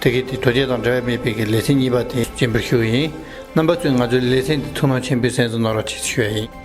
ཐིག་གེ་དེ་རྡོ་རྗེ་དང་འབྲལ་བ་མེད་པའི་གི་ལས་ཚན་གཉིས་པ་དེ་སྤྱི་འབུར་ཞུ་བ་ཡིན། རྣམ་པ་ཚོས་ང་ཚོའི་ལས་ཚན་འདི་ཐུགས་སྣང་ཆེན་པོས་གཟེངས་སུ་ནོར་བ་བྱེད་ཞུ་བ་ཡིན།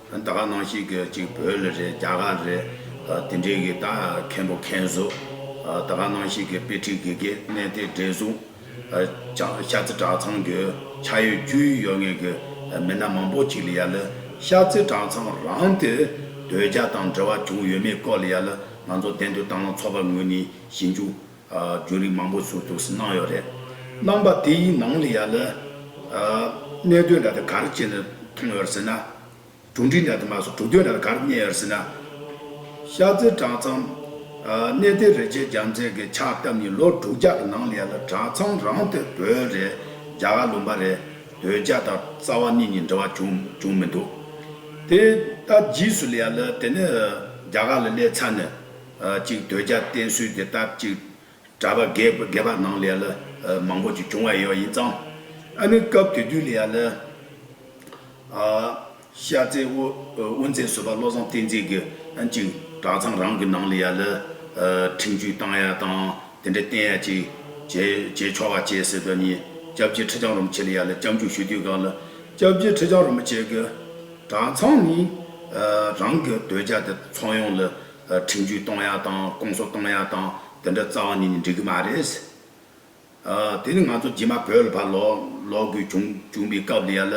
ད་ག་ནང་ཞིག་གི་གཅིག་བོད་ལ་རེད་རྒྱ་གར་རེད་དེ་འདྲའི་གི་ད་མཁན་པོ་མཁན་བཟོས་ད་ག་ནང་ཞིག་གི་དཔེ་ཁྲིད་དགེ་དགེ་གནས་དེ་འདྲས་བཟུང་ཨ་ཤ་ཚེ་གྲགས་ཚང་གི་ཆ་ཡོད་རྒྱུས་ཡོད་ངེས་གི་མི་སྣ་མང་པོ་གཅིག་ལ་ཡ་ལི་ཤ་ཚེ་གྲགས་ཚང་རང་དེ་དོལ་རྒྱ་དང་འབྲེལ་བ་བྱུང་ཡོད་མེད་སྐོར་ལ་ཡ་ལི་ང་ཚོ་བདེན་དུ་བཏང་ལ་ཚོགས་པ་ངོས་ནས་ཞིབ་འཇུག་རྒྱུན་རིང་མང་པོ་ཟུར་དུ་གནང་ཡོད་རེད། གནང་པ་དེའི་ནང་ལ་ཡང་ལ་གནད་དོན་འདྲ་དེ་ག་རེ་བྱས་ནས་མཐོང་ཡོད་ཟེར་ན། གྲུ་འགྲིག་འདྲ་དེ་མ་གསུངས་གྲུ་དོན་འདྲ་དེ་ག་རེ་བསྙལ་ཡོད་ཟེར་ན། ཤ་རྩི་གྲངས་ཚང་གནས་དེ་རེ་བྱས་རྒྱ་མཚན་གྱི་ཕྱག་བཏབ་ཉིན་ལོ་དྲུག་བརྒྱ་གི་ནང་ལ་ཡ་ལ་གྲངས་ཚང་རང་དེ་བོད་རེད་རྒྱ་གར་ལུང་པ་རེད་བོད་རྒྱ་དང་རྩ་བ་གཉིས་གཉིས་འབྲེལ་བ་བྱུང་བྱུང་མི་འདུག་དེ་ལྟ་རྗེས་སུ་ལ་ཡ་ལ་དེ་ནས་རྒྱ་གར་ལ་སླེབས་ཚར་ནས། ཅིག་དོལ་རྒྱལ་བསྟེན་གསོལ་འདི་ལྟར་ཅིག། གྲྭ་པ་རྒས་པ་ནང་ལས་ལ། མང་པོ་ཅིག་བྱུང་བ་ཡོད་ཡིན་ཙང། ཨ་ནི་སྐབས་དེ་དུས་ལ་ཡ་ལ། ཤ་ཚའི་དབུ་མཛད་བཟོད་པ་བློ་བཟང་བསྟན་འཛིན་གྱི། ཅིག་གྲྭ་ཚང་རང་གི་ནང་ལ་ཡ་ལ། ཁྲིམས་གཅུས་བཏང་ཡ་དང་དེ་འདྲ་བསྟེན་ཡ་ཅིག། བྱེད་ཆོག་བ་བྱེད་ཟེར་དོན་ནི། སྐྱབས་རྗེ་ཁྲི་བྱང་རིན་པོ་ཆེ་ལ་ཡ་ལ་སྐྱབས་འཇུག་ཞུ་དུས་གང་ལ། སྐྱབས་རྗེ་ཁྲི་བྱང་རིན་པོ་ཆེ་གི། གྲྭ་ཚང་ནི། རང་གི་དོལ་རྒྱལ་དེ་ཚོགས་ཡོང་ལ། ཁྲིམས་གཅོད་གཏོང་ཡག་དང་སྐོང་གསོ་གཏོང་ཡག་དང་དེ་འདྲ་རྩ་བ་ཉིད་ནས་འགྲིག་གི་མ་རེད། དེ་ནི་ང་ཚོ་རྗེས་མ་བོད་ལ་ཕར་ལོག་དགོས་བྱུང་བའི་སྐབས་ལ་ཡ་ལ་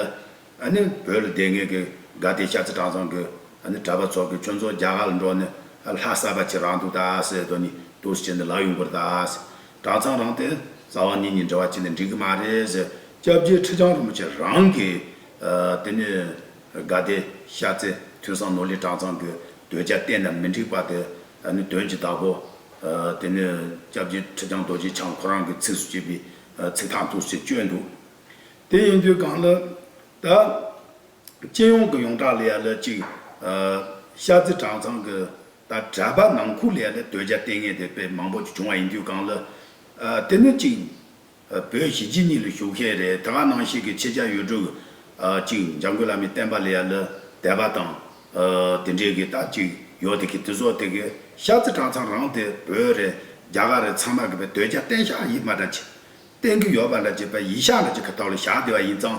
ནི་བོད་ལ་བསྡད་མཁན་གྱི་དགའ་བདེ་ཤ་ཚ་གྲངས་ཚང་གི་གྲྭ་པ་ཚོགས་ཀྱིས་ཁྱོད་ཚོ་རྒྱ་གར་ལ་འགྲོ་ནས་ལྷ་གསར་པ་ཁྱེར་རང་འདུག་ད་ཟེར་དོ་ནི་དུ་ཟེར་ནས་ལག་ཡོང་གི་རེད་ད་གྲངས་ཚང་རང་དེ་རྩ་བ་ཉིད་ནས་འདྲ་བ་བྱས་ནས་འགྲིག་གི་མ་རེད། སྐྱབས་རྗེ་ཁྲི་བྱང་རིན་པོ་ཆེ་རང་གིས་དེ་ནི། དགའ་བདེ་ཤ་ཚའི་ཐོས་བསམ་ནོར་ལྷའི་གྲངས་ཚང་གི་འདོད་ཆགས་གཏན་ནས་མི་འགྲིག་པ་དེ་ནི་དོན་གྱི་བདག་པོ། དེ་ནས་སྐྱབས་རྗེ་ཁྲི་བྱང་རྡོ་རྗེ་འཆང་ཁོ་རང་གི་ཚིགས་སུ་བཅད་པའི་ཚིག་ཐང་ཐུགས་སུ་བཅོས་འདུག། དེ་ཡིན་དུས་གང་ལ། ད། སྤྱི་ཡོངས་ཀྱི་ཡོངས་གྲགས་ལ་ཡ་ལ་གཅིག། ཤ་ཚའི་གྲངས་ཚང་གི་ད་གྲྭ་པ་ནང་ཁུལ་ལ་ཡ་ལ་འདོད་ཆགས་གཏན་ངེས་དེ་བས་མང་པོ་ཞིག་བྱུང་བ་ཡིན་དུས་གང་ལ། དེ་ནི་གཅིག། བོད་གཞིས་བྱེས་གཉིས་ལ་ཞུགས་མཁན་རེད་ད་ག་ནང་བཤད་ཀྱི་ཆེ་ཆ་ཡོད་དྲུག་གཅིག་འཇམ་མགོན་བླ་མའི་བསྟན་པ་ལ་ཡ་ལ་དད་པ་དང། དེ་འདྲའི་གི་ད་གཅིག་ཡོད་དེ་གི་དེ་སོགས་དེ་གི་ཤ་ཚ་གྲང་ཚང་རང་དེ་བོད་རེད་རྒྱ་གར་རེད་ཚང་མ་གི་བའི་དོད་ཆ་བསྟན་ཤག་ཡིད་མ་དྲང་བྱེད་བསྟན་གི་ཡོད་པ་ལ་བྱེད་པ་ཡིད་ཤག་ལ་བྱེད་གི་ད་ལོ་ཞག་བདེ་བ་ཡིན་ཙང་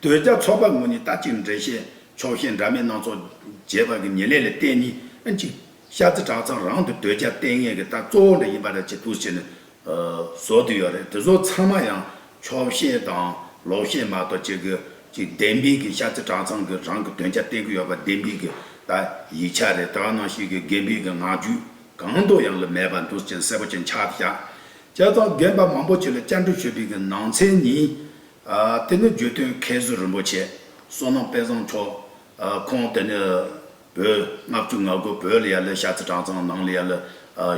ལྟོས་རྒྱ་མཚོ་པ་ངོས་ནས་ད་ཅིག་འགྲེལ་བཤད་ཕྱོགས་ཞེན་འདྲ་མེད་སྣ་ཚོགས་རྒྱས་པར་གྱི་ངེས་ལེགས་ལ་བརྟེན་ནས་གཅིག། ཤ་ཚ་བྲག་ཚང་རང་དུ་ལྟོས་རྒྱ་ལྟས་ངན་གྱི་རྟགས་གཙོ་བོ་འདྲ་ཡིན་པ་འདྲ་ཅིག་ཏུ་བྱས་ནས་བཟོ་དུས་ཡོད་རེད་དེ་ཚོ་ཚང་མ་ཡང་ཕྱོགས་བཤད་དང་ལོག་བཤད་མ་གཏོགས་བྱེད་གི་གཅིག་བདེན་དཔེ་གྱི་ཤ་ཚ་བྲག་ཚང་གི་རང་གི་ལྟོས་རྒྱ་བསྟན་གྱི་ཡོད་པ་བདེན་དཔེ་གྱི་ད་ཡིག་ཆ་རེད་དྲག་ནང་བཤད་གི་རྒན་དཔེ་གྱི་ངག་རྒྱུད་གང་དུ་ཡང་ལ་མེད་པ་འདུག་ཅན་གསལ་པོ་ཅན་ཆགས་བཞག་བྱས་ཙང་རྒན་པ་མང་པོ་ཅིག་ལ་བཅར་འདྲི་ཞུས་པའི་གི་ནང་ཚན་ནི་དེ་ནི་བརྗོད་དོན་མཁས་བཟོད་རིན་པོ་ཆེ་བསོད་ནམས་དཔལ་བཟང་མཆོག་ཁོང་དེ་ནི་བོད་ལྔ་བཅུ་ང་དགུ་བོད་ལི་ཡ་ལི་ཤ་ཚི་གྲངས་ཚང་ནང་ལི་ཡ་ལི་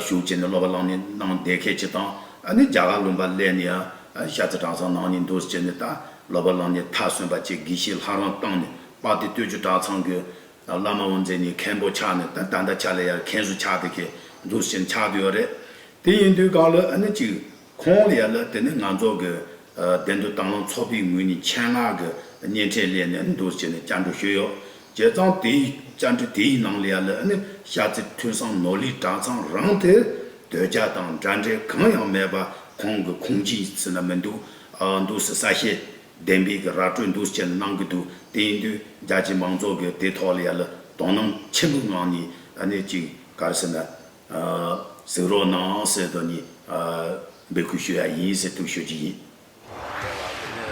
ཞུགས་བྱས་ནས་སློབ་པ་བླང་ནས་གནང་བདེ་སྐད་ཅིག་དང་ཨ་ནི་རྒྱ་གར་ལུང་པ་ལས་ནི་ཤ་ཚི་གྲངས་ཚང་ནང་ནས་འདུག་བྱས་ནས་ད་སློབ་པ་བླང་ནས་མཐའ་སོན་པ་ཅིག་དགེ་ཤིས་ལྷ་རང་བཏང་ནས་དཔག་དེ་སྟོད་ཆུ་གྲངས་ཚང་གི་བླ་མ་དབུ་མཛད་ནས་མཁན་པོ་ཆགས་ནས་ད་ད་ད་ཆ་ལི་ཡ་མཁན་ཟུར་ཆགས་དེ་གས་འདུག་བྱས་ནས་ཆགས་དུས་ཡོད་རེད་དེ་ཡིན་དུས་གང་ལོ་ཨ་ནི་གཅིག་ཁོང་ཡ་ལ་དེ་ནི་ང་ཚོ་གི་བདེན་དོན་དང་ཚོགས་པའི་ངོས་ནས་ཆེད་མངགས་ཀྱི་སྙན་འཕྲིན་ལས་ནས་འདུར་བྱས་ནས་བཅར་འདྲི་ཞུས་ཡོད། བྱས་ཙང་དེའི་བཅར་འདྲི་དེའི་ནང་ལ་ཡ་ལ་ནི་ཤར་རྩེ་ཐོས་བསམ་ནོར་ལྷའི་གྲྭ་ཚང་རང་དེ་དོལ་རྒྱ་དང་འདྲ་འདྲའི་གང་ཡང་མེད་པ་ཁོང་གི་ཁུངས་སྐྱེལ་ཚུལ་ན་མི་འདུག་འདུག་སེ་གསལ་བཤད་བདེན་པའི་གི་ར་སྤྲོད་འདུར་བྱས་ནས་གནང་གི་འདུག་དེ་ཡིན་དུས་རྒྱ་ཆེའི་མང་ཚོགས་ཀྱི་དེ་ཐོག་ལ་ཡ་ལ་དོ་སྣང་ཆེན་པོའི་ངང་ནས་ནས་ཅིག་ག་རེ་ཟེར་ན། གཟིགས་རོགས་གནང་ཟེར་དོ་ནི། འབོད་སྐུལ་ཞུ་ཡག་ཡིན་ཟེར་དུ་ཞུ་རྒྱུ་ཡིན། རེད་བ་དེ་ནི་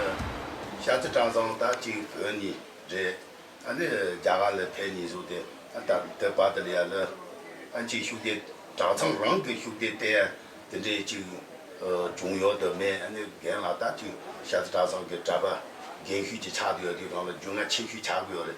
ཤ་ཚིལ་སྤྲང་ཚང་ལྟ་གཅིག་བོད་ནི་རེད་ཨ་ནི་རྒྱ་གར་ལ་ཕེབས་ནི་གཟུགས་དེ་ཨ་ལྟ་དེ་བ་དེ་ལ་ཡ་ལི་ཨ་མཆིས་ཤུགས་དེ་གྲགས་ཚང་རང་གི་ཤུགས་དེ་ལྟས་དེ་འདྲས་གཅིག་བྱུང་ཡོད་དུ་མེད་ཨ་ནི་རྒན་ལགས་ལྟ་གཅིག་ཤ་ཚིལ་སྤྲང་ཚང་གི་གྲ་པ་རྒན་ཤུས་ཀྱི་ཆགས་དུ་ཡོད་དུས་རང་ལ་རྒྱུས་མངའ་ཆེ་ཤུས་ཆགས་གི་ཡོད་རེད་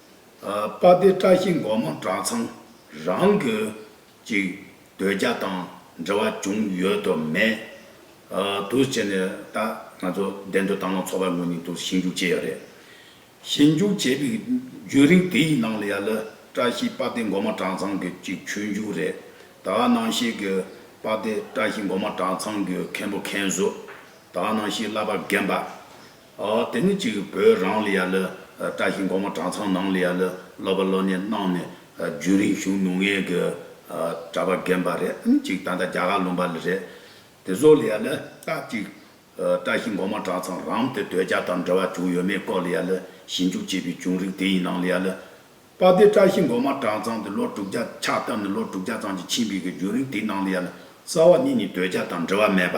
དཔའ་སྡེ་བཀྲ་ཤིས་མགོན་མོ་གྲྭ་ཚང་རང་གི་ཅིག་སྡོད་རྒྱ་དང་འབྲེལ་བ་བྱུང་ཡོད་དོ་མེད་དུ་བྱས་ནས་ད་ང་ཚོ་བདེ་འདོད་དང་ལོངས་འཚོ་བའི་ངོས་ནས་དུ་ཞིབ་འཇུག་བྱས་ཡོད་རེད། ཞིབ་འཇུག་བྱས་པའི་རྒྱུན་རིང་དེ་ཡི་ནང་ལ་ཡ་ལི་བཀྲ་ཤིས་དཔའ་སྡེ་མགོན་མོ་གྲྭ་ཚང་གི་ཅིག་ཆོས་འཇུག་རེད་ད་ནང་ཤེས་ཀྱི་དཔའ་སྡེ་བཀྲ་ཤིས་མགོན་མོ་གྲྭ་ཚང་གི་མཁན་པོ་མཁན་བཟོ་ད་ནང་ཤེས་བླ་པ་རྒན་པ་དེ་ནས་ཅིག་བོད་རང་ལ་ཡ་ལི་བཀྲ་ཤིས་འགོ་མ་གྲྭ་ཚང་ནང་ལ་ཡ་ལི་སློབ་པ་སློབ་གཉེར་གནང་ནས་རྒྱུན་རིང་བཞུགས་མྱོང་ངེས་ཀྱི་གྲྭ་པ་རྒན་པ་རེད་ཨང་ཅིག་ད་ལྟ་རྒྱ་གར་ལུང་པ་ལ་རེད། དེ་ཚོ་ལ་ཡ་ལི་སྐབས་ཅིག་བཀྲ་ཤིས་འགོ་མ་གྲྭ་ཚང་རང་དེ་དོལ་རྒྱལ་དང་འབྲེལ་བ་བྱུང་ཡོད་མེད་སྐོར་ལ་ཡ་ལི་ཞིབ་འཇུག་བྱས་པའི་བྱུང་རིགས་དེ་ཡི་ནང་ལ་ཡ་ལི། པ་དེ་བཀྲ་ཤིས་འགོ་མ་གྲྭ་ཚང་དེ་ལོ་དྲུག་བརྒྱ་ཆ་བཏབ་ནས་ལོ་དྲུག་བརྒྱ་ཚང་གཅིག་ཕྱིན་པའི་གྱི་བྱུང་རིགས་དེ་ནང་ལ་ཡ་ལི་རྩ་བ་གཉིས་ནི་དོལ་རྒྱལ་དང་འབྲེལ་བ་མེད་པ།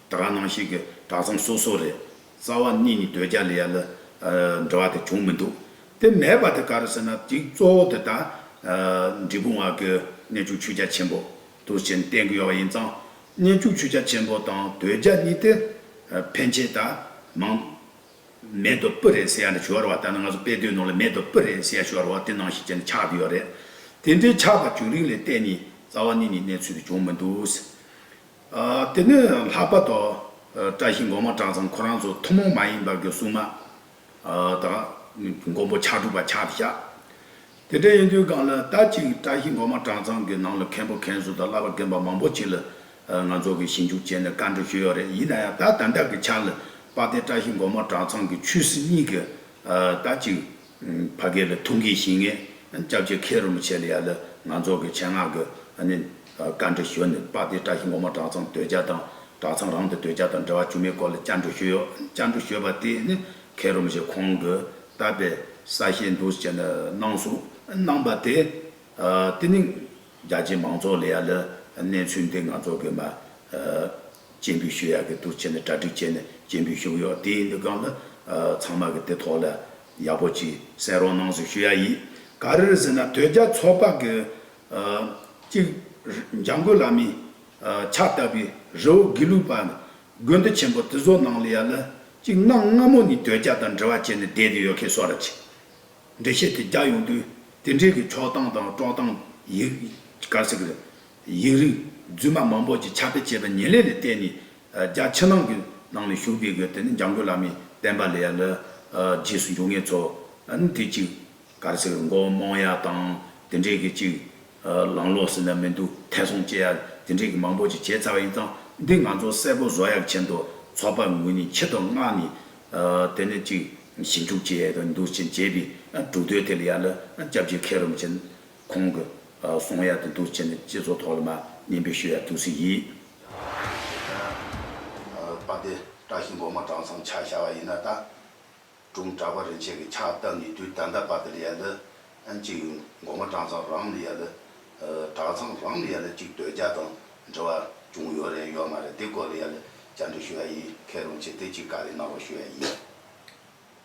དག་རང་སྣང་ཞིག་གི་དག་མཚམས་སོ་སོ་རེད། རྩ་བ་གཉིས་ནི་ཟློས་བརྒྱ་ལས་ཡར་ལ་འབྲི་བ་དེ་བྱུང་མི་འདུག་དེ་མེད་པ་དེ་ག་རེ་ཟེར་ན་དེའི་གཙོ་བོ་དེ་དག་འབྲི་གུང་བ་གི་གནས་འཇུག་ཆུ་རྒྱ་ཆེན་པོ་དུ་བཞིན་བསྟན་གི་ཡོད་པ་ཡིན་ཙང་གནས་འཇུག་ཆུ་རྒྱ་ཆེན་པོ་དང་ཟློས་བརྒྱ་གཉིས་དེ་ཕན་ཆད་ད་མང། མེད་དོ་སྤུ་རེད་ཟེར་ཡ་འདྲ་ཞོར་བ་ལྟར་ན་ང་ཚོ་དཔེ་དོན་ནང་ལ་མེད་དོ་སྤུ་རེད་ཟེར་ཡ་ཞོར་བ་དེ་སྣང་ཞིག་ཅན་དུ་ཆགས་ཀྱི་ཡོད་རེད། དེ་འདྲའི་ཆགས་པ་བྱུང་རིགས་ལས་བལྟས་ནས་རྩ་བ་གཉིས་ནི་གནས་ཚུལ་དེ་བྱུང་མི་འདུག། དེ་ནས་ལྷག་པ་དང། བཀྲ་ཤིས་མགོན་མ་བྲག་ཚང་ཁོ་རང་ཚོ་ཐུན་མོང་མ་ཡིན་པར་གྱི་སྲུང་མ་དང། མགོན་པོ་ཕྱག་དྲུག་པ་ཕྱག་བཞག་དེ་འདྲ་ཡིན་དུས་གང་ལ་ལྟ་ཅིག་བཀྲ་ཤིས་མགོན་མ་བྲག་ཚང་གི་ནང་ལ་མཁན་པོ་མཁན་ཟུར་དང་བླ་པ་རྒན་པ་མང་པོ་ཅིག་ལ་ང་ཚོ་གིས་ཞིབ་འཇུག་བྱས་ནས་བཀའ་འདྲི་ཞུས་ཡོད་རེད་ཡིན་ན་ཡང་ད་ལྟ་འདི་དག་གི་ཆ་ལ་དཔལ་ལྡན་བཀྲ་ཤིས་མགོན་མ་བྲག་ཚང་གི་ཆོས་སྲིད་གཉིས་ཀྱི་ལྟ་ཅིག། བྷ་གའི་ལ་ཐུང་གིས་ཞིང་ངེ་སྐྱབས་ཆེ་མཁས་རིན་པོ་ཆེ་ལ་ཡ་ལ་ང་ཚོགས་ཀྱི་ཆེད་མངགས་ཀྱི་བཀའ་འདྲི་ཞུ་ནས་དཔའ་སྡེ་བཀྲ་ཤིས་འོག་མ་གྲྭ་ཚང་དོལ་རྒྱལ་དང་གྲྭ་ཚང་རང་དང་དོལ་རྒྱལ་དང་འབྲེལ་བ་བཅུ་མའི་སྐོར་ལ་བཅར་འདྲི་ཞུས་ཡོད། བཅར་འདྲི་ཞུས་པ་དེ་ནི་མཁས་རིན་པོ་ཆེ་ཁོང་གིས་བཏབ་པའི་ས་ཞེ་འདོགས་བྱས་ནས་གནང་གསུངས་གནང་པ་དེ། དེ་ནི་རྒྱ་ཆེའི་མང་ཚོགས་ལ་ཡ་ལ་གནས་ཚུལ་འདི་ང་ཚོགས་ཀྱི་མ། སྤྱན་དགུའི་ཤུལ་ཡག་གི་དུར་ཁྱེར་ནས་གྲ་སྒྲིག་བྱས་ནས་སྤྱན་དགུའི་ཤུགས་ཡོད་དེའི་མདུན་སྒང་དུ། ཚང་མ་གི་དེ་ཐོག་ལ། ཡག་པོ་གྱིས་གསན་རོགས་གནང་ཟེར་ཤུལ་ཡག་ཡིས། ག་རེ་རེད་ཟེར་ན་དོལ་རྒྱལ་ཚོགས་པ་གི། གཅིག། འཇང་དགོན་བླ་མའི། ཕྱག་བཏབ་པའི་རི་བོ་དགེ་ལུགས་པ། དགོན་འདི་ཆེན་པོ་དེ་ཚོ་ནང་ལ་ཡ་ལ། གཅིག་གནམ་སྔ་མོ་ནས་དོལ་རྒྱལ་དང་འབྲེལ་བ་བྱས་ནས་བསྡད་དེ་ཡོད་མཁན་སོགས་ར་བྱས། འགྲེལ་བཤད་དེ་རྒྱག་ཡོང་དུས། དེ་འབྲེལ་གྱི་ཕྱོགས་སྟངས་དང་དཀྲོག་སྟངས། ཡིག། གར་སིག། ཡིག་རིགས་རྫུན་མ་མང་པོ་ཅིག་ཁྱབ་སྤེལ་བྱས་པའི་ཉེན་ལས་ལས་བརྟེན་ནས་རྒྱ་ཕྱི་ནང་གི་ནང་ནས་ཞུགས་པའི་སྒོས་དེ་ནི་འཇམ་མགོན་བླ་མའི་བསྟན་པ་ལས་ཡར་ལ་རྗེས་སུ་འཇུག་ངེས་ཚོ་ལ་ནི་དེ་གཅིག་གར་སེར་མགོ་རྨོངས་ཡ་དང་དེ་འདྲས་ཀྱི་གཅིག་ལང་ལོག་ཟིན་ལ་མི་འདུག་ཐལ་སྲུང་བཅས་ཡ་དེ་འདྲས་ཀྱི་མང་པོ་ཅིག་བྱས་ཚར་བ་ཡིན་ཙང་འདི་ང་ཚོ་གསལ་པོ་བཟོ་ཡག་ཆེད་དུ་ཚོགས་པ་དངོས་ནས་ཁྱི་དང་སྔགས་ནི་དེ་ནི་གཅིག་ཞིབ་འཇུག་བྱས་ཡས་དང་འདུག་ཅེས་བྱས་པའི་གྲུབ་དོད་དེ་ལ་ཡར་ལ་སྐྱབས་རྗེ་མཁས་རུམ་ཅན་ཁོང་གི་གསུང་ཡག་ཏུ་འདུག་བྱས་ནས་སྤྱི་ཚོགས་ཐོག་ལ་མ་ཉན་པའི་ཤོད་ཡག་ཏུ་ཟིག་ཡིག། པ་དེ་བཀྲ་ཤིས་མགོ་མ་བཀྲ་མཚམས་ཆ་བྱ་བ་ཡིན་ན་ད་དྲུང་གྲགས་པ་རིན་ཆེན་གྱི་ཕྱག་བཏབ་ནས་དུས་ད་ལྟ་བར་དུ་ལ་ཡ་ལི་ཨན་གཅིག་ཡོད་མགོ་མ་བཀྲ་མཚམས་རང་ལ་ཡ་ལི་གྲགས་མཚམས་རང་ལ་ཡ་ལི་གཅིག་སྡོད་རྒྱ་དང་འབྲེལ་བ་ཅུང་ཡོད་རེད་ཡོད་མ་རེད་དེ་སྐོར་ལ་ཡ་ལི་བཅར་འདྲི་ཞུ་ཡ་ཡིན་མཁས་རུང་ཆེ་དེ་གཅིག་དཀའ་ལས་གནང་རོགས་ཞུ་ཡ་ཡིན།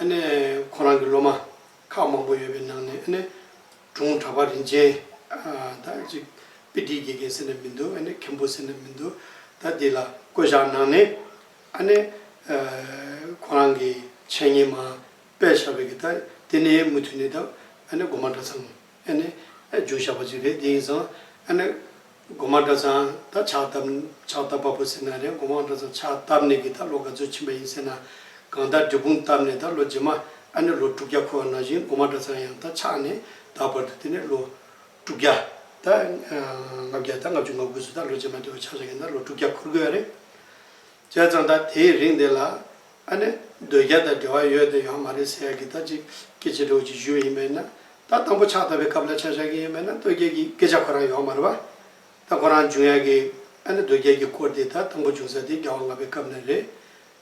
ཨ་ནེ། ཁོ་རང་གི་སློབ་མ་ཁག་མང་པོ་ཡོད་པའི་ནང་ནས་ཨ་ནེ། དྲུང་གྲགས་པ་རིན་ཆེན། ད་ཅིག་པི་ཏིའི་དགེ་རྒན་ཟེར་ནས་མི་འདུག་ཨ་ནེ། མཁན་པོ་ཟེར་ནས་མི་འདུག་ད་འདི་ལ་བསྐོས་བཞག་གནང་ནས། ཨ་ནེ། ཁོ་རང་གི་འཆད་ཉན་མ་དཔལ་ཞབས་པའི་གི་ད་དེ་ནས་མུ་མཐུད་ནས་ད་ཨ་ནེ་དགོངས་པ་འདྲ་ཚང། ཨེ་ནི། རྒྱུན་བཤགས་པ་ཅིག་རེད་འདི་ཡིན་ཙང། ཨེ་ནི། སྒོ་མང་གྲྭ་ཚང་ད་ཕྱག་བཏབ། ཕྱག་བཏབ་པ་པོ་ཟེར་ན་རེད་སྒོ་མང་གྲྭ་ཚང་ཕྱག་བཏབ་ནས་ཀྱི་ད་ལོ་ག་ཚོད་ཕྱིན་པ་ཡིན་ཟེར་ན། གང་ད་འབྲི་གུང་བཏབ་ནས་ད་ལོ་རྗེས་མ། ཨེ་ནི་ལོ་དྲུག་བརྒྱ་འཁོར་བ་ནང་བཞིན་སྒོ་མང་གྲྭ་ཚང་ཡང་ད་ཕྱག་ནས་ད་བར་དུ་དེ་ནས་ལོ། དྲུག་བརྒྱ། ད། ལྔ་བརྒྱ་ད་ལྔ་བཅུ་ང་དགུ་ཚོ་ད་ལོ་རྗེས་མ་དེ་བ་ཕྱག་བཞག་གིན་ད་ལོ་དྲུག་བརྒྱ་འཁོར་དགོས་ཡ་རེད། བྱས་ཙང་ད་དེའི་རིང་དེ་ལ་ཨ་ནེ་འདོད་རྒྱལ་དང་འབྲེལ་བ་ཡོད་དེ་ཡོང་མ་རེད་ཟེར་ཡག་གི་ད་ཅིག་སྐད་ཆེ་གྲོགས་ཀྱིས་བཞུ་བ་ཡིན་པས་ན་ད་དང་པོ་ཕྱག་བཏབ་པའི་སྐབས་ལ་ཆ་བཞག་གི་ཡིན་པས་ན་སྟོད་རྒྱལ་གྱིས་སྐད་ཆ་ཁོ་རང་ཡོང་མ་རེད་བ། ད་ཁོ་རང་འབྱུང་ཡག་གི་ཨ་ནེ་འདོད་རྒྱལ་གྱི་སྐོར་དེ་ད་དང་པོ་བྱུང་ས་དེ་རྒྱ་བ་ལྔ་པའི་སྐབས་ནས་རེད།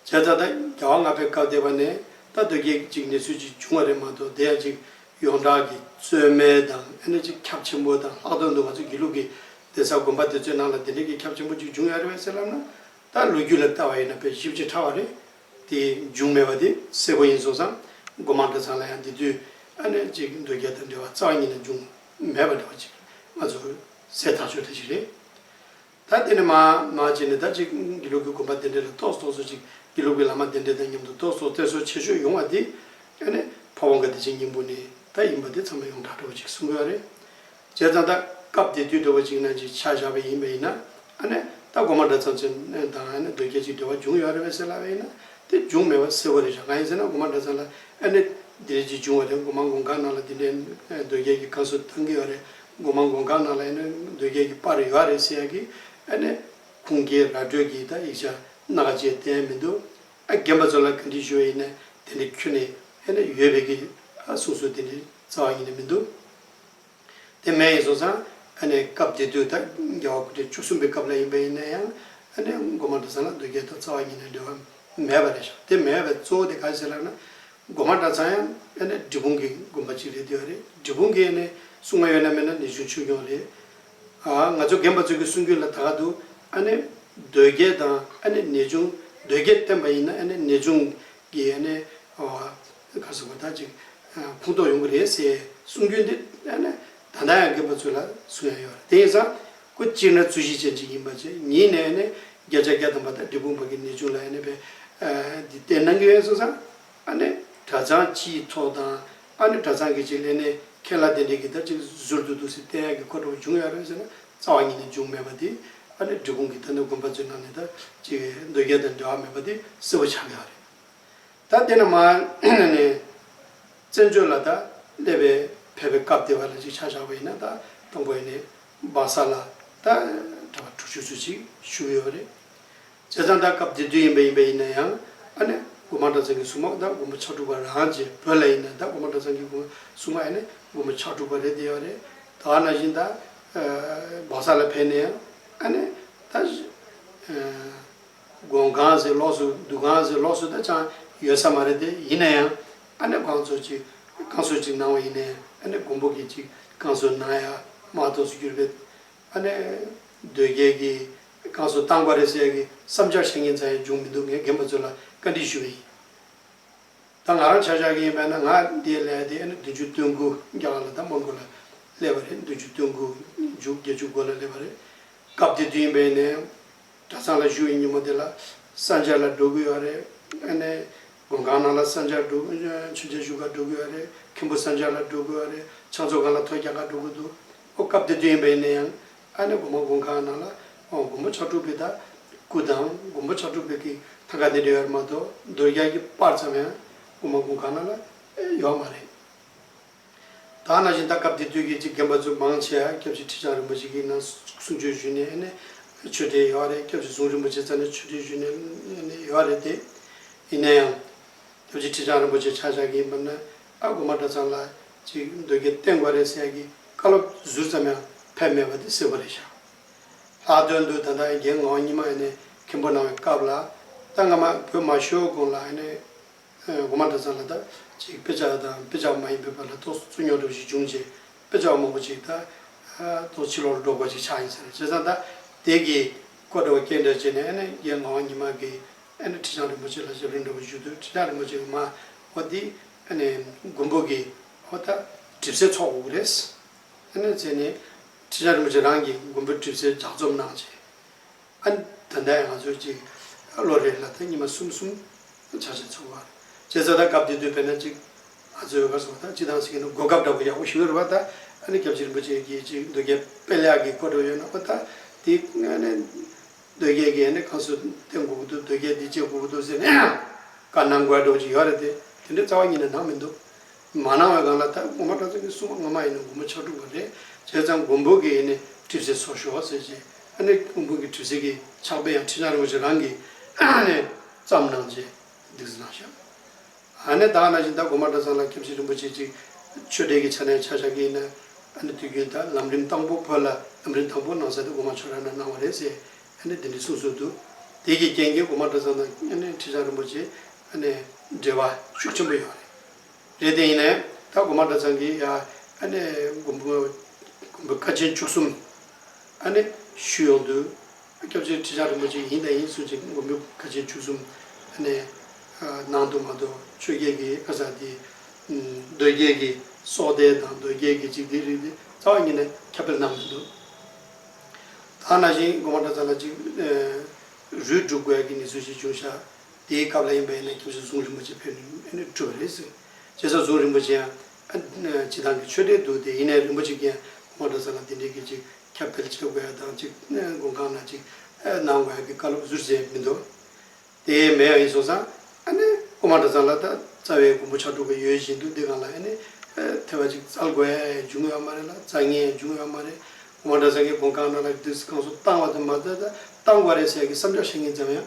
བྱས་ཙང་ད་རྒྱ་བ་ལྔ་པའི་སྐབས་དེ་བ་ནས་ད་འདོད་རྒྱལ་གྱི་ཅིག་གནས་ཚུལ་ཅིག་བྱུང་བ་རེད་མ་གཏོགས་དེ་ཡང་ཅིག་ཡོངས་གྲགས་ཀྱི་རྩོལ་མེད་དང་ཨེ་ནོ་ཅི་ཁྱབ་ཆེན་པོ་དང་ལྷག་དོན་དུ་ང་ཚོའི་དགེ་ལུགས་ཀྱི་གདན་ས་དགོན་པ་དེ་ཚོའི་ནང་ལ་དེ་འདྲའི་དགེ་ཁྱབ་ཆེན་པོ་གཅིག་འབྱུང་ཡ་རེད་བས་སེམས་ལབ་ན། ད་ལོ་རྒྱུས་ལ་བལྟ་བ་ཡིན་ན་དཔེ་ཞིབ་ཅིག་ཕྲ་བ་རེད། དེ་འབྱུང་མེད་པ་དེ་གསལ་པོ་ཡིན་སོང་ཙང་སྒོ་མང་གྲྭ་ཚང་ལ་ཡང་འདི་དུས་ཨ་ནེ་ཅི་གི་འདོད་རྒྱལ་དང་འབྲེལ་བ་རྩ་བ་ཉིད་ནས་འབྱུང་མེད་པ་འདྲ་བ་ཅིག་ང་ཚོར་གསལ་ཐག་ཆོད་ལྟ་ཞིག་རེད། ད་དེ་ནི་མ་མ་ཅིག་ནི་ད་ཅིག་དགེ་ལུགས་ཀྱི་དགོན་པ་བདེ་འགྲེལ་ལ་གཏོགས་སོ་གསོལ་ཅིག་དགེ་ལུགས་ཀྱི་བླ་མ་བདེ་འགྲེལ་དང་མཉམ་དུ་གཏོགས་སོ་གཏད་གསོལ་ཆེ་ཤོས་ཡོང་བ་དེ་ཨེ་ནི་ཕ་བོང་ཁ་བདེ་ཆེན་སྙིང་པོ་ནི་ད་ཡིན་པ་དེ་ཚང་མ་ཡོངས་གྲགས་འདྲ་བོ་ཅིག་གསུང་དགོས་ཨ་རེ། བྱས་ཙང་ད་སྐབས་དེ་དུས་འདྲ་བོ་ཅིག་ན་ཅིག་ཆ་བཞག་པ་ཡིན་པ་ཡིན་ན་ཨ་ནི་ད་སྒོར་མོ་འདྲ་ཙམ་ཚོན་དང་ཨ་ནི་རྡོ་སྐྱེས་ཅིག་འབྲེལ་བ་འབྱུང་ཡོད་ཨ་རེ་བས་སེ་ལ་བས་ཡིན་ན་དེ་འབྱུང་མེད་པ་གསལ་བོ་རེད་བཞག་གང་ཡིན་ཟེར་ན་སྒོར་མ་འདྲ་ཙམ་ལ་ཨ་ནི་འདི་རེད་ཅིག་འབྱུང་བ་རེད་སྒོར་མ་འགོང་གང་ནང་ལ་འདི་འདྲའི་རྡོ་སྐྱེས་ཀྱི་ཀང་སོ་བཏང་གི་ཨ་རེ་སྒོ་མང་དགོན་ཁག་ནང་ལ་ཡིན་ན་འདོད་རྒྱལ་གྱི་པར་ཡོད་རེད་ཟེར་ཡ་གི་ཨ་ནི་ཁུངས་སྐྱེལ་ར་སྤྲོད་ཀྱི་ད་ཡིག་ཆ་སྣ་ཁ་བྱས་བསྟན་མི་འདུག་ཨ་རྒན་པ་ཚོ་ལ་ག་འདྲི་ཞུ་ཡ་ཡིན་ན་དེ་འདྲི་ཁྱོད་ནས་ཨ་ནི་ཡོད་རེད་གི་ཨ་གསུང་སྲོལ་དེ་འདྲི་རྩ་བ་ཡིན་ནི་མི་འདུག་དེ་མེད་ཡིན་སོང་ཙང་ཨ་ནི་སྐབས་དེ་དུས་ད་རྒྱ་བ་ཁུ་ཁྲེ་བཅུ་གསུམ་པའི་སྐབས་ལ་ཡིན་པ་ཡིན་ན་ཡང་ཨ་ནི་སྒོ་མང་དྲི་བཟང་ལ་འདོད་རྒྱལ་དང་རྩ་བ་ཉིད་ནས་འབྲེལ་བ་མེད་པ་རེད་ཤག་དེ་མེད་པའི་གཙོ་བོ་དེ་ག་རེ་ཟེར་ལགས་ན་སྒོ་མ་འདྲ་ཚང་ཡང་དཔེར་ན་འབྲི་སྤུངས་ཀྱི་དགོན་པ་གཅིག་རེད་བསྡད་རེད་འབྲི་སྤུངས་ཀྱི་ནས་སྲུང་མ་ཡོད་ན་མེད་ན་ནས་ཆུང་ཆོས་སྐྱོང་རེད། ང་ཚོ་རྒན་པ་ཚོ་གི་སྲུང་སྐྱོང་ལ་ད་ག་འདུག་ཨ་ནེ་རྡོས་རྒྱལ་དང་ཨ་ནེ་ནེ་ཆུང་རྡོས་རྒྱལ་བསྟན་པ་ཡིན་ན་ཨ་ནེ་ནེ་ཆུང་གི་ཨ་ནེ་ག་ཟེར་བ་ད་ཅིག་ཕུང་ཐོག་ཡོང་གི་རེད་ཟེར་སྲུང་སྐྱོང་དེ་ཨ་ནེ་ད་ལྟ་ཡང་རྒན་པ་ཚོ་ལ་སྲུང་ཡ་ཡོད་རེད་དེ་ཡིན་ཙང། སྐུ་གཅིག་ན་རྩུ་བཞི་ཅན་གཅིག་ཡིན་པ་བཅས་ཉིད་ནས་ནི་བརྒྱ་ཆ་བརྒྱ་སྟོན་པ་དང་འབྲས་སྤུངས་པ་གི་ནི་ཅུང་ལ་ཡང་ནི་པའི་འདི་སྟེ་ནང་གི་ཡོན་སོགས་སམ། ཨ་ནི་གྲ་ཚང་སྤྱིའི་ཚོགས་དང། ཨ་ནི་གྲ་ཚང་གི་གཅིག་ལས་ནི་ཁྱེད་ལ་དེ་འདྲའི་གི་དར་གཅིག་གཟུར་དུ་འདུག་ཟེར་བསྟན་ཡག་གི་འཁོར་འགྲོ་བ་འབྱུང་ཡོད་རེད་ཟེར་ན་རྩ་བ་ཉིད་ནས་འབྱུང་མེད་པ་དེ། ཨ་ནི་འབྲས་སྤུངས་གི་དར་ནི་དགོན་པ་ཚོའི་ནང་ནས་དར་གཅིག་འདོད་རྒྱལ་དང་འབྲེལ་བ་མེད་པ་དེ་གསལ་བོ་ཆགས་ཡོད་རེད། ད་དེ་ནི་མ་ནི་ནི། བཙན་བྱོལ་ལ་ད་སླེབས་པའི་ཕེབས་པའི་སྐབས་དེ་བ་ལ་ཅིག་ཆ་བཞག་པ་ཡིན་ན་ད་སྟོང་པ་ཡིན་ནས་སྦག་ས་ལ་ད་གྲྭ་བ་དྲུག་ཅུ་ཚོད་ཅིག་བཞུགས་ཡོད་པ་རེད། བྱས་ཙང་ད་སྐབས་དེ་དུས་ཡིན་པ་ཡིན་པ་ཡིན་ན་ཡང་ཨ་ནི་དགོན་པ་གྲྭ་ཚང་གི་སྲུང་མ་ད་དགོན་པ་ཕྱག་དྲུག་པ་རང་རྗེ་བོད་ལ་ཡིན་ན་ད་དགོན་པ་གྲྭ་ཚང་གི་དགོན་སྲུང་མ་ཨ་ནི་དགོན་པ་ཕྱག་དྲུག་པ་རེད་དེ་བ་རེད། ད་ན་བཞིན་ད་སྦག་ས་ལ་ཕེབས་ནས་ཡང་ཨ་ནི་ད། དགོན་གང་ཟིག་ལོགས་སུ་འདུག་གང་ཟིག་ལོགས་སུ་ད་ཆའང་ཡོད་ས་མ་རེད་དེ་ཡིན་ན་ཡང་ཨ་ནེ་བང་མཛོད་ཀྱི་བསྐང་གསོ་ཅིག་གནང་བ་ཡིན་ན་ཡང་ཨ་ནེ་མགོན་པོ་གྱི་ཅིག་བསྐང་གསོ་གནང་ཡ་མ་གཏོགས་སུ་གྱུར་པའི་ཨ་ནེ་འདོད་རྒྱལ་གྱི་བསྐང་གསོ་བཏང་པ་རེད་ཟེར་གི་བསམ་འཆར་བཤད་མཁན་ཙམ་ཡང་བྱུང་མི་འདུག་ངས་རྒན་པ་ཚོ་ལ་བཀའ་དྲིན་ཞུ་བ་ཡིན། ད་ང་རང་ཆ་བཞག་གི་ཡིན་པས་ན་ང་འདི་སླད་དེ་ཨ་ནེ་བདུན་ཅུ་སྟོན་དགུ་བརྒྱ་ལ་ད་མགོན་པོ་ལ་སླེབས་པ་རེད་བདུན་ཅུ་སྟོན་དགུ་བརྒྱ་བརྒྱད་ཅུ་དགུ་ལ་སླེབས་པ་རེད་སྐབས་དེ་དུས་ཡིན་པས་ནས། གྲྭ་ཚང་ལ་བཞུགས་ཡིན་ཉིན་མོ་དེ་ལ་ས་འབྱར་ལ་འགྲོ་དགོས་ཡོད་རེད་དངོས་གནས་དགོན་ཁང་ནང་ལ་ས་འབྱར་འགྲོ་མཆོད་མཇལ་ཞུ་ག་འགྲོ་དགོས་ཡོད་རེད་མཁན་པོ་ས་འབྱར་ལ་འགྲོ་དགོས་ཡོད་རེད་ཕྱག་མཛོད་ཁང་ལ་ཐོ་རྒྱག་ག་འགྲོ་དགོས་འདུག་ཨོ་སྐབས་དེ་དུས་ཡིན་པ་ཡིན་ན་ཡང་ཨ་ནེ་དགོན་པ་དགོན་ཁང་ནང་ལ་དགོན་པ་ཕྱག་དྲུག་པའི་དག་སྐུ་དང་དགོན་པ་ཕྱག་དྲུག་པའི་གི་ཐང་ག་དེ་འདྲ་ཡོད་རེད་མ་གཏོགས་འདོད་རྒྱག་གི་པར་ཙམ་ཡང་དགོན་པ་དགོན་ཁང་ནང་ལ་ཡོད་མ་རེད། ད་ན་བཞིན་ད་སྐབས་དེ་དུས་ཀྱི་གཅིག་རྒན་པ་ཚོས་མང་ཆེ་ཡང་སྐྱབས་རྗེ་ཁྲི་བྱང་རིན་པོ་ཆེ་གི་ནང་གསུང་ཆོས་ཞུས་ནས་ནས་ཆོས་དྲེད་ཡོད་རེད་སྐྱབས་རྗེ་གཟུངས་རིན་པོ་ཆེ་ཚང་ནས་ཆོས་དྲེད་ཞུས་ནས་ཡོད་རེད་དེ། ཡིན་ན་ཡང། སྐྱབས་རྗེ་ཁྲི་བྱང་རིན་པོ་ཆེ་ཆག་ཆག་གི་ཡིན་པ་ན་ཨ་དགོ་མ་གྲྭ་ཚང་ལ་ཅིག་འདོད་རྒྱལ་བསྟེན་དགོས་རེད་ཟེར་ཡ་གི་བཀའ་སློབ་ཟུར་ཙམ་ཡང་ཕེབས་མེད་པ་དེ་སེ་བོ་རེད་ཤག་ལྷག་དོན་དུ་ད་ལྟ་རྒན་ངག་གཉིས་མ་ནས་མཁན་པོ་གནང་བའི་སྐབས་ལ་ད་སྔ་མ་བོད་མ་ཤོར་གོང་ལ་ནས། སྒོ་མ་འདྲ་ཚང་ལ་དག་ཅིག་དཔེ་ཆ་དང་དཔེ་ཆ་མ་ཡིན་པའི་བར་ལ་ཐུགས་སུ་མྱོང་གྲབས་ཤིག་བྱུང་རྗེས་དཔེ་ཆ་མང་པོ་ཅིག་དག་ཐུགས་ཕྱི་ལོག་ལ་སྒྲོག་དགོས་ཅིག་ཆགས་ཡིན་ཟེར་བྱས་ཙང་དག་དེས་ཀྱི་ཀོ་འདྲ་བ་སྐྱེལ་འདྲ་བྱས་ནས་ཨ་ནེ་རྒྱལ་ངག་དབང་ཉི་མ་གིས་ཨ་ནེ་ཁྲི་བྱང་རིན་པོ་ཆེ་ལ་ཞབས་རིམ་འདྲ་བོ་ཞུས་དུས་ཁྲི་བྱང་རིན་པོ་ཆེས་མ་འོ་འདི་ཨ་ནེ་མགོན་པོ་གིས་ཧོ་ད་གྲིབ་སེལ་ཚོགས་དབུགས་རེད། ཨ་ནེ་ཟེར་ནས་ཁྲི་བྱང་རིན་པོ་ཆེ་རང་གིས་མགོན་པོའི་གྲིབ་སེལ་ལྗགས་རྩོམ་གནང་རྗེས། ཨ། ད་ལྟའི་ང་ཚོའི་ཅིག་ལོ་རེར་ལ་དྭགས་ཉི་མ་གསུམ་གསུམ་བྱ་བཞིན་འཚོ་བ། བྱས་ཙང་ད་སྐབས་འདི་དུས་དཔེར་ན་ཅིག་ཨ་ཚོའི་བོད་སོག་དང་ཅི་དང་ཟེར་གྱི་འདུག་གོ་སྐབས་འདྲ་པོ་ཡག་པོ་ཞུ་རེ་བ་ད་ཨ་ནི་སྐྱབས་རྗེ་རིན་པོ་ཆེ་གྱིས་ཅིག་འདོད་རྒྱལ་དཔལ་ལེགས་ཀྱི་གོ་བགྲོས་ཡོད་ན་ཨོ་ད་དེ་ཨ་ནི་འདོད་རྒྱལ་གྱིས་ཨ་ནི་ཁང་སུ་བསྟན་དགོས་ཀྱི་འདུག་འདོད་རྒྱལ་འདི་བྱེད་དགོས་ཀྱི་འདུག་ཟེར་ནས་ཨ། དཀར་ནག་མགོ་ཡར་སྒྲོག་ཅིག་ཡོད་རེད་དེ་དེ་འདྲའི་རྩ་བ་ཉིད་ནས་ནང་མི་འདུག་མ་གནང་བའི་སྒང་ལ་ད་རུང་གོང་མ་བཀྲ་བཙུན་གྱི་སྲུང་མ་སྔ་མ་ཡིན་ན་མགོན་པོ་ཕྱག་དྲུག་པ་རེད་བྱས་ཙང་མགོན་པོ་གྱིས་ཡིན་ནི་གྲིབ་བསིལ་ཚོགས་ཞོག་ཟེར་རྗེས་ཨ་ནི་མགོན་པོ་གྱིས་གྲིབ་བསིལ་གྱི་ཕྱག་དཔེ་ཡང་ཁྲི་སྣང་རིན་པོ་ཆེ་རང་གིས་ཨ་ནི་བརྩམས་གནང་རྗེས་སྡིགས་བཟི་གནང་ཞབས་ཨ་ནི་བདག་ན་བཞིན་ད་གོང་མ་བཀྲ་བཟང་ལ་ཁྱབ་ཆེན་རིན་པོ་ཆེ་གཅིག་ཆོས་དྲེད་ཀྱི་ཆ་ནས་ཕྱག་བཞག་གི་ཡིན་ན་ཨ་ནི་དུས་རྒྱུན་ད་ལམ་རིམ་དང་པོ་བོད་ལ་ལམ་རིམ་དང་པོ་གནང་ས་དེ་གོང་མ་ཆོས་ར་ན་གནང་བ་རེད་ཟེར་ཨ་ནི་དེ་འདྲའི་གསུངས་སྲོལ་འདུག་དེའི་གྱི་རྐྱེན་གྱིས་གོང་མ་བཀྲ་བཟང་དང་ཨ་ནི་ཁྲི་སྣང་རིན་པོ་ཆེ་ཨ་ནི་འབྲེལ་བ་ཤུགས་ཆེན་པོ་ཡོད་རེད། རེད་དེ་ཡིན་ནས་ད་སྒོ་མ་འདྲ་ཚང་གི་ཡ་ཨ་ནེ་མགོན་པོ་མགོན་པོ་བཀའ་ཆེན་བཅུ་གསུམ་ཨ་ནེ་ཞུས་ཡོང་དུས་སྐྱབས་རྗེ་ཁྲི་བྱང་རིན་པོ་ཆེ་ཡིན་དང་ཡིན་གསུངས་ཅིག་མགོན་པོ་བཀའ་ཆེན་བཅུ་གསུམ་ཨ་ནེ་གནང་འདུག་མ་འདུག་ཆོས་རྒྱལ་གྱི་ཨ་ཟ་དེ་མདོས་རྒྱལ་གྱི་སྲོག་ལྡན་དང་མདོས་རྒྱལ་གྱི་འཇིག་རྟེན་རིགས་དེ་རྩ་བ་ཉིད་ནས་ཁྱབ་སྤེལ་གནང་མི་འདུག་ད་ནང་བཞིན་སྒོ་མ་འདྲ་ཚང་ལ་ཅིག་རུས་བསྒྲུབ་དགོས་ཀྱི་ངེས་ཚུལ་ཞིག་བྱུང་ཤག་དེའི་སྐབས་ལ་ཡིན་པ་ཡིན་ན་ཁྱིམ་སྲོལ་གཟུངས་རིན་པོ་ཆེ་ཕེབས་ནས་གྲུབ་པ་རེད་ཟེར། རྗེས་སོར་གཟུངས་རིན་པོ་ཆེ་ཡང་སྤྱི་བཏང་གི་ཆོས་གྲྭའི་འདུག་སྟེ་ཡིན་ནའི་རིན་པོ་ཆེ་གྱིས་ཡང་ངོ་སྤྲོད་ས་ལ་དེ་འབྲེལ་གྱི་ཅིག་ཁྱབ་སྤེལ་བྱེད་དགོས་ཡ་དང་ཅིག་དགོན་ཁང་ན་ཅིག་གནང་དགོས་ཡ་གི་བཀའ་སློབ་བསུར་བྱས་མི་འདུག་དེ་མེད་ཡང་ཡིན་སོང་ཙང་ཀོ་མ་གྲྭ་ཚང་ལ་ད་རྩ་བའི་མགོན་པོ་ཕྱག་དྲུག་ག་ཡོད་བཞིན་དུ་འདི་གང་ལ་ཐེ་བ་ཅིག་རྩལ་དགོས་ཡ་འཇུག་ངེས་བ་མ་རེད་ལ་རྩལ་ངེས་ཡ་འཇུག་ངེས་བ་མ་རེད་ཀོ་མ་གྲྭ་ཚང་གི་དགོན་ཁང་ནང་ལ་བསྡུས་གང་སོ་བཏང་བ་དང་མ་བསྡུས་ད་བཏང་དགོས་རེད་ཟེར་ཡ་གི་བསམ་འཆར་བཤད་ངེས་ཙམ་ཡང་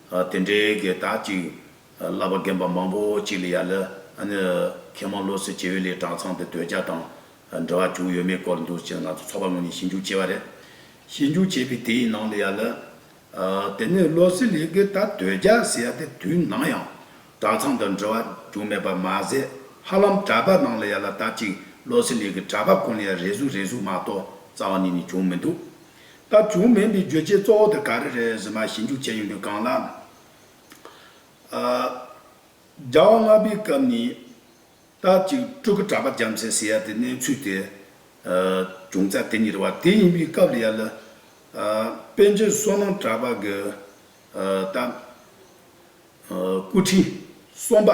དེ་འདྲའི་གེ་དག་ཅིག་བསླབ་པ་རྒན་པ་མང་པོ་ཅིག་ལ་ཡ་ལ་མཁས་མང་བློ་གསལ་བྱེ་བས་ལས་གྲྭ་ཚང་དུ་སྡོད་རྒྱ་དང་འབྲེལ་བ་བྱུང་ཡོད་མེད་སྐོར་འདུ་བྱེད་ལ་ང་ཚོ་ཚོགས་པ་ངོས་ནས་ཞིབ་འཇུག་བྱས་པ་རེད། ཞིབ་འཇུག་བྱས་པའི་དེའི་ནང་ལ་ཡ་ལ་དེ་ནས་བློ་གསལ་ལས་གེ་དག་སྡོད་རྒྱ་ཟེར་ཡ་དེ་དུས་ནང་ཡང་གྲྭ་ཚང་དང་འབྲེལ་བ་བྱུང་མེད་པ་མ་ཟད་ཧ་ལམ་གྲྭ་པ་ནང་ལ་ཡ་ལ་དག་ཅིག་བློ་གསལ་ལས་གེ་གྲྭ་པ་ཁོ་ནས་ཡ་རེ་ཟུག་རེ་ཟུག་མ་གཏོགས་རྩ་བ་ནས་ནི་བྱུང་མི་འདུག་སྐབས་བྱུང་མིན་འདི་བརྗོད་བྱའི་གཙོ་བོ་དེ་ག་རེ་རེད་ཟེར་ན་ཞིབ་འཇུག་བྱས་ཡོང་དུས་གང་ལགས། རྒྱ་བོད་ལྔ་པའི་སྐབས་ནས་སྟབས་ཅིག་སྤྲུལ་སྐུ་གྲགས་པ་རྒྱ་མཚན་ཟེར་ཡ་དེ་གནས་ཚུལ་དེ་བྱུང་ཚད་དེ་ཉིད་རེད་བ། དེ་ཡིན་པའི་སྐབས་ལ་ཡ་ལ་དཔལ་ཆེན་བསོད་ནམས་གྲགས་པ་གི་སྟབས་སྐུ་ཁྲི་གསུམ་པ་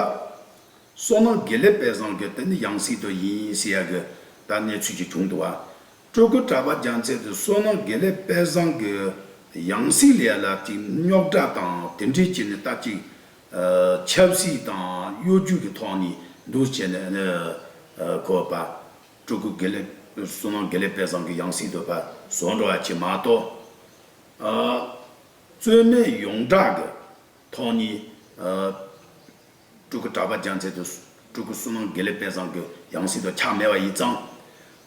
བསོད་ནམས་དགེ་ལེགས་དཔལ་བཟང་གི་དེ་ནི་ཡང་སྲིད་དུ་ཡིན་ཟེར་ཡ་གི་ད་གནས་ཚུལ་གྱི་བྱུང་འདུག་བ། སྤྲུལ་སྐུ་གྲགས་པ་རྒྱ་མཚོས་དེ་བསོད་ནམས་དགེ་ལེགས་དཔལ་བཟང་གི་ཡང་སྲིད་ལས་ལབ་ཅིག་རྙོག་དྲ་དང་དེ་འབྲེལ་བྱས་ནས་བཏབ་ཅིག། ཆབ་སྲིད་དང་གཡོ་སྒྱུ་གི་ཐོག་ནས་འདུ་བྱས་ནས་བཀོད་པ། སྤྲུལ་སྐུ་དགེ་ལེགས་བསོད་ནམས་དགེ་ལེགས་དཔལ་བཟང་གི་ཡང་སྲིད་དུ་བཟོ་འགྲོ་བ་བྱས་མ་གཏོགས། རྩོད་མེད་ཡོངས་གྲགས་ཀྱི་ཐོག་ནས། སྤྲུལ་སྐུ་གྲགས་པ་སྦྱང་ཚད་དུ། སྤྲུལ་སྐུ་སྲུང་མ་དགེ་ལེགས་དཔལ་བཟང་གི། ཡང་སྲིད་དུ་འཁྱགས་མེད་བ་ཡིས་བརྫངས།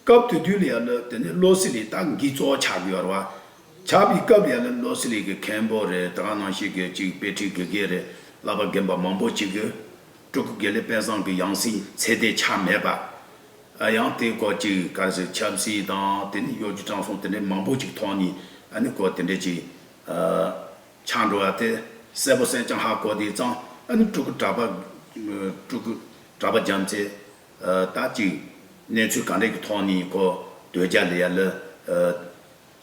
སྐབས་དུས་དུས་ལ་ཡ་ལོ་དེ་ནི་བློ་སེ་ལིས་རྟགས་འགིག་གཙོ་བོ་ཆགས་དགོས་བར་བ། ཆགས་པའི་སྐབས་ཡ་ལོ་བློ་སེ་ལིས་ཀྱི་མཁན་པོ་རེ་དྲག་ནང་བཤད་དགོས་གཅིག་དཔེ་ཁྲིད་དགེ་རྒན་རེ་བསླབ་པ་རྒན་པ་མང་པོ་བྱེད་དགོས། སྤྲུལ་སྐུ་དགེ་ལེགས་དཔལ་བཟང་གི་ཡང་སྲིད་ཚད་དེ་ཆགས་མེད་པ། ཡང་དེའི་སྐོར་གཅིག་གར་ཟིག་ཆབ་སྲིད་དང་དེ་ནི་གཡོ་སྒྱུ་དྲང་སྲོང་དེ་འདྲའི་མང་པོ་ཅིག་ཐོག་ནས་ཨ་ནི་སྐོར་དེ་འདྲས་ཅིག། ཆགས་འགྲོ་བ་དེ་གསལ་པོ་གསལ་ཀྱང་ཧ་གོ་དེའི་གཙང་ཨ་ནི་སྤྲུལ་སྐུ་གྲགས་པ། སྤྲུལ་སྐུ་གྲགས་པ་རྒྱམ་ཚེ་ལྟ་ཅིག། གནས་ཚུལ་ག་འདྲས་ཀྱི་ཐོག་ནས་གོ་དོལ་རྒྱ་ལི་ཡ་ལི།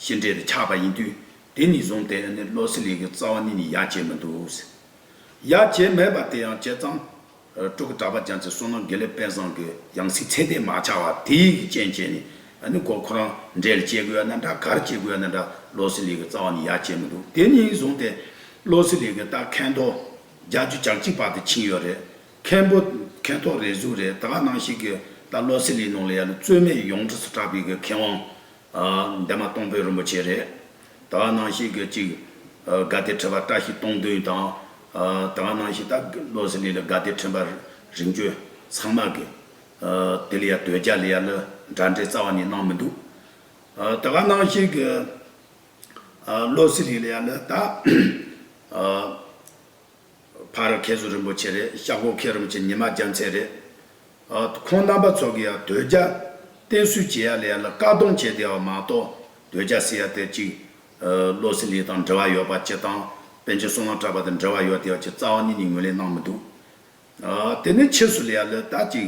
ཤི་འདྲེ་དེ་ཆགས་པ་ཡིན་དུས་དེ་ནས་བཟུང་སྟེ་ཨ་ནི་བློ་སེ་ལིང་གི་རྩ་བ་ནས་ནི་ཡ་བྱེད་མི་འདུག་ཟེར། ཡ་བྱེད་མེད་པ་དེ་ཡང་བྱེད་ཙམ། སྤྲུལ་སྐུ་གྲགས་པ་རྒྱ་མཚོའི་བསོད་ནམས་དགེ་ལེགས་དཔལ་བཟང་གི་ཡང་སྲིད་ཚད་ལྡན་མ་ཆགས་བར་དེ་ཡི་གི་སྤྱན་བཅས་ནས་ནི་གོ་ཁོ་རང་འགྲེལ་བཅས་དགོས་ཡ་ན་འདྲ་གར་བཅས་དགོས་ཡ་ན་འདྲ་བློ་སེང་ལེགས་ཀྱི་རྩ་བ་ནས་ཡར་བཅད་མི་འདུག་དེ་གཉིས་བཟུང་སྟེ་བློ་སེང་ལེགས་ཀྱི་རྟགས་མཁན་ཐོག་རྒྱ་རྒྱུད་ཇག་གཅིག་པ་དེ་ཕྱིན་ཡོད་རེད་མཁན་པོ་མཁན་ཐོག་རེ་ཟུག་རེད་ད་ག་ནང་ཞིག་གི་ད་བློ་སེང་ལེགས་ནང་ལ་ཡ་ལ་རྩོད་མེད་ཡོངས་གྲགས་སུ་གྲགས་པའི་གི་མཁས་དབང་འདས་མ་སྟོང་པའི་རིན་པོ་ཆེ་རེད། ད་ག་ནང་བཞིན་གྱི་ཅིག། དགའ་བདེ་ཁྲི་བ་བཀྲ་ཤིས་སྟོང་བདུན་དང། ད་ག་ནང་བཞིན་ད་བློ་ཟི་ལི་ལི་དགའ་བདེ་ཁྲི་བ་རིན་བཅོལ་ཚང་མ་གི། དེ་ལ་ཡ་དོལ་རྒྱ་ལི་ཡ་ལི་འདྲ་འདྲའི་རྩ་བ་ནས་གནང་མི་འདུག། ད་ག་ནང་བཞིན་གྱི། བློ་ཟི་ལི་ལི་ཡ་ལི་ད། ཕ་ར་གྷལ་བཟོ་རིན་པོ་ཆེ་རེད་ཤག་སྒོ་ཁེ་རུམ་གྱི་ཉི་མ་རྒྱ་མཚན་རེད། ཁོང་རྣམ་པ་ཚོ་གི་ཡང་དོལ་རྒྱ་བསྟེན་སུས་བྱེད་ཡ་ལེ་ཡ་ལ་བཀག་སྡོམ་བྱེད་བསྡད་བ་མ་གཏོགས་དོལ་རྒྱ་ཟེར་ཡ་དེ་གཅིག་བློ་སེང་ལི་དང་འབྲེལ་བ་ཡོད་པ་སྤྱི་བཏང་པན་ཆེན་སྲོང་ལགས་གྲགས་པ་དང་འབྲེལ་བ་ཡོད་བསྡད་བ་གཅིག་རྩ་བ་ནས་ནི་ངོས་ལེན་གནང་མི་འདུག་དེ་ནས་ཕྱིས་སུ་ལེ་ཡ་ལི་ད་གཅིག།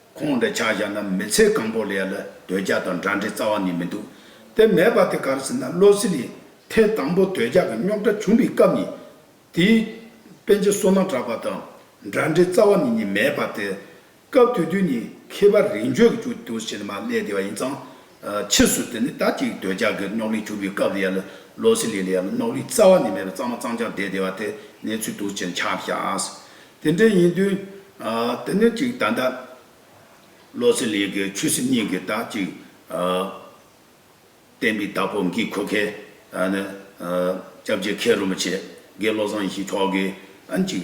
ཁོང་འདྲ་ཆགས་བཞག་ན་མི་ཚེ་གང་པོ་ལས་ལ་དོད་རྒྱ་དང་འདྲ་འདྲའི་རྩ་བ་ནས་མི་འདུག་དེ་མེད་པ་དེ་གར་ཟིན་ན་བློ་སེ་ལས་ཐལ་དང་པོ་དོད་རྒྱ་གི་རྙོག་དྲ་བྱུང་བའི་སྐབས་ནས་དེའི། དཔེ་ཇི་སོ་ན་གྲགས་པ་དང་འདྲ་འདྲའི་རྩ་བ་ནས་ནི་མེད་པ་དེ། སྐབས་དུས་དུས་ནས་མཁས་པ་རིགས་འཇོག་གི་ཆུ་དུ་ཞེས་ན་མ་བསླད་བདེ་བ་ཡིན་ཙང། ཕྱིས་སུ་དེ་ནི་ད་ཅིག་འདོད་ཆགས་ཀྱི་རྙོག་གླེང་བྱུང་བའི་སྐབས་ལ་ཡ་ལ་ལོ་སི་ལི་ལི་ཡ་ལ་རྙོག་གླེང་རྩ་བ་ནས་མེད་པར་གཙང་མ་གཙང་ཆགས་བསྡད་བསྡད་པ་དེ་གནས་ཚུལ་དུ་ཆེར་ཁྱབ་བཞག་དེ་འདྲ་ཡིན་དུས། དེ་ནས་ཅིག་ད་ལྟ་ལོ་སི་ལི་གི་ཆོས་སྲིད་གཉིས་ཀྱི་ད་ཅིག་བསྟན་པའི་བདག་པོ་འགའི་འཁོས་མཁན་ནི་སྐྱབས་རྗེ་མཁས་རློམ་པ་ཆེ་དགེ་བློ་བཟང་ཡེ་ཤེས་མཆོག་གིས་ཨང་ཅིག་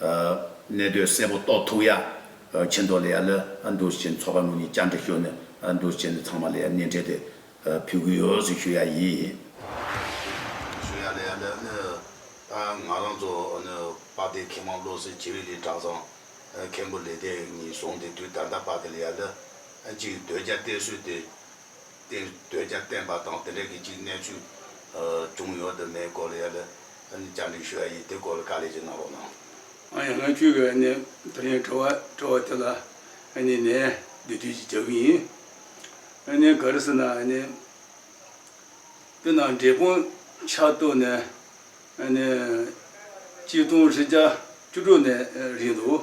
གནས་དོན་གསལ་པོ་རྟོགས་ཐུག་ཡ། ཆེ་མདོག་ལས་ཡ་ལ་འདུར་བྱས་ནས་ཚོགས་པ་ལུགས་གཉིས་བསྐྱར་འདྲི་ཞུ། འདུར་བྱས་ནས་ཚང་མ་ལ་ཡ་གནས་འཕྲལ་དུ་ཕུལ་གུས་ཡོད་ཞུ་ཞུ་ཡ་ཡིས། ཞུ་ཡ་ལ་ཡ་ལ་ང་རང་ཚོ་དཔའ་སྡེ་མཁས་མང་བློ་གསལ་བྱེ་བས་ལས་གྲྭ་ཚང་མཁན་པོ་ལས་སྡེ་གཉིས་བཟུང་སྟེ་དུས་ད་ལྟ་དཔའ་སྡེ་ལ་ཡ་ལ་གཅིག་སྡོད་རྒྱ་གཏད་སྲོལ་དེ། དེ་འདོད་ཀྱང་བསྟན་པ་དང་དེ་འབྲེལ་གྱི་གཅིག་གནས་ཚུལ་བྱུང་ཡོད་དུ་མེད་སྐོར་ཡང་ལ་བཅར་འདྲི་ཞུ་ཡ་ཡིས་དེ་སྐོར་ལ་བཀའ་ལས་ཀྱི་གནང་རོགས་གནང། ང་ཡང་ང་ཁྱོད་ཀྱི་ནས་དོན་ཡང་བྲོ་བ་བྲོ་བ་དེ་ལ་ནས་ནས་འདི་དུས་ཀྱི་བྱ་གི་ཡིན། ནས་ག་རེ་ཟེར་ན་ནས་དེ་ནང་འབྲས་སྤུངས་ཆ་ཏོ་ནས་ནས་གཅིག་སྟོང་ཧྲི་ཅག་བཅུ་དྲུག་ནས་རིག་འདུག་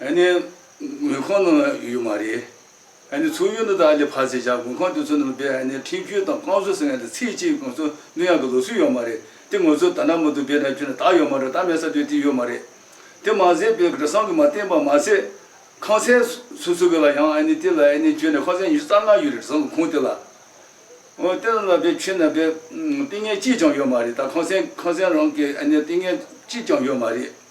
ཨ་ནི། དངུལ་ཁང་ནང་ཡོད་མ་རེད། ཨ་ནི་ཚོགས་ཡུལ་ནང་དག་ལས་ཕར་ཚེ་བཞག་དགུན་ཁང་དེ་ཚོ་ནང་སྦས་ཨ་ནི་ཁྲིམས་གཅོད་དང་བསྐང་གསོ་ཟེར་ཡང་དེ་ཚེ་གཅིག་ང་ཚོ་ནུ་ཡང་གི་ལོ་སུ་ཡོད་མ་རེད་དེ་ངོ་ཚོ་ད་ནག་མོ་དུ་སྦས་ན་ཁྱོད་ན་དག་ཡོད་མ་རེད་ད་མལ་ས་དུས་དེ་ཡོད་མ་རེད། དེ་མ་ཟད་པའི་གྲ་སང་གི་མ་བསྟན་པ་མ་ཟད། ཁང་སའི་སུ་སུ་གི་ལ་ཡང་ཨ་ནི་དེ་ལ་ཨ་ནི་ཁྱོད་ནས་ཁང་སའི་ཉི་ཤུ་རྩ་ལྔ་ཡོད་རེད་གྲ་སང་གི་ཁུངས་དེ་ལ། ཨོ་དེ་ལ་ལ་སྦས་ཁྱོད་ན་སྦས་ཏིང་ངེ་གཅིག་ཀྱང་ཡོད་མ་རེད་ད་ཁང་སའི་ཁང་སའི་རང་གི་ཨ་ནི་ཏིང་ངེ་གཅིག་ཀྱང་ཡོད་མ་རེད།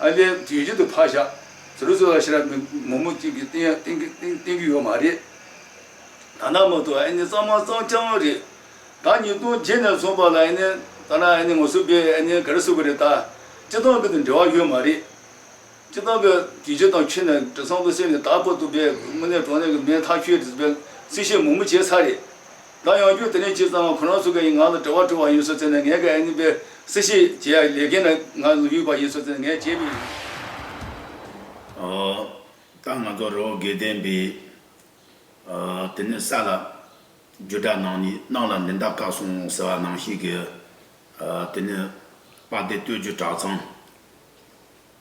ཨ་ལས་དུས་རྒྱུན་དུ་ཕག་ཞག་ཟེར་བའི་ཚོད་ལ་ཤི་ར་མི་མོ་མོ་གཅིག་གིས་བསྟེན་གྱི་ཡོད་མ་རེད། ད་ནངས་མ་ཐུག་ཨ་ནི་གཙང་མ་གཙང་ཆགས་ངོ་རེད། ད་ཉིས་སྟོང་བརྒྱད་ནས་བཟུང་བར་ལ་ཨ་ནི་ད་ནངས་ཨ་ནི་ངོ་བསུ་པས་ཨ་ནི་ག་རེ་བསུ་གི་རེད་ད། སྤྱི་བཏང་གི་དང་འབྲེལ་བ་ཡོད་མ་རེད། སྤྱི་བཏང་གི་དུས་རྒྱུན་དང་ཁྱོད་ནས་དྲི་བཟང་དུ་བསྲེས་ནས་དར་པོ་བཏུབ་པས་དངོས་གནས་གྲོང་ནས་གི་མེ་ཐག་ཆོད་རེད་ཟེར་བའི་རྩིས་བཤད་མུག་མུག་བྱས་ཚར་རེད། ད་ཡང་རྒྱུ་དེ་ནས་ཁྱེད་ཚང་ཁོ་ན་ཚོ་གའི་ང་ལ་དྲི་བ་དྲི་བ་ཡིན་སོ་ཚེ་ན་ངས་གའི་ཨེ་ནི་པའི་སི་བཤད་བྱེད་ཡ་ལས་མཁན་ན་ང་ལ་ཡུག་པ་ཡིན་སོ་ཚེ་ན་ངས་བྱེད་པའི། ད་ང་ཚོ་རོ་དགེ་ལྡན་པའི་དེ་ནས་ས་ལ་རྒྱུ་དྲ་ནང་ནས་ནང་ལ་མི་འདའ་དཀའ་སོང་ཟེར་བ་ནང་བཤད་གི་དེ་ནས་པ་དེ་སྟོད་རྒྱུ་དྲ་ཚང་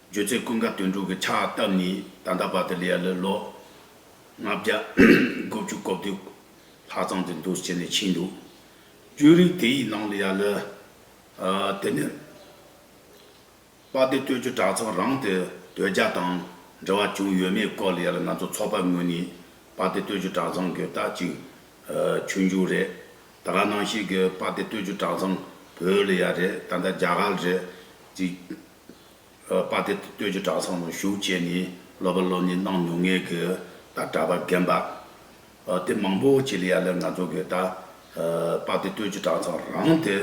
རྒྱུ་ཚེ་ཀུན་དགའ་དོན་གྲུབ་གི་ཕྱག་བཏབ་ནས་ད་ལྟ་བར་དུ་ལས་ལ་ལོ་ལྔ་བརྒྱ་དགུ་བཅུ་གོ་བདུན། ལྷ་ཚང་དེ་འདུ་བྱེད་ནས་ཕྱིན་འདུག། རྒྱུ་རིགས་དེ་ཡི་ནང་དུ་ཡ་ལི། དེ་ནས། དཔའ་སྡེ་སྟོད་ཀྱི་གྲྭ་ཚང་རང་དེ་དོལ་རྒྱ་དང་འབྲེལ་བ་བྱུང་ཡོད་མེད་སྐོར་ལ་ཡ་ལི་ང་ཚོ་ཚོགས་པ་ངོས་ནས་དཔའ་སྡེ་སྟོད་ཀྱི་གྲྭ་ཚང་གི་དག་ཅིག་ཆོས་འབྱུང་རེད། ད་ར་ནང་བཞིན་གྱི་དཔའ་སྡེ་སྟོད་ཀྱི་གྲྭ་ཚང་བོད་ལ་ཡ་རེད་ད་ལྟ་རྒྱ་གར་རེད། ཅིག། དཔའ་སྡེ་སྟོད་ཀྱི་གྲྭ་ཚང་ནང་ཞུགས་བྱས་ནས་སློབ་པ་སློབ་གཉེར་གནང་མྱོང་ངེས་གི་ད་གྲྭ་པ་རྒན་པ། དེ་མང་པོ་བྱེད་ལ་ཡ་ལེར་ང་ཚོ་གིས་ད་དཔག་དེ་ལྟོས་ཀྱི་གྲངས་ཚང་རང་དེ་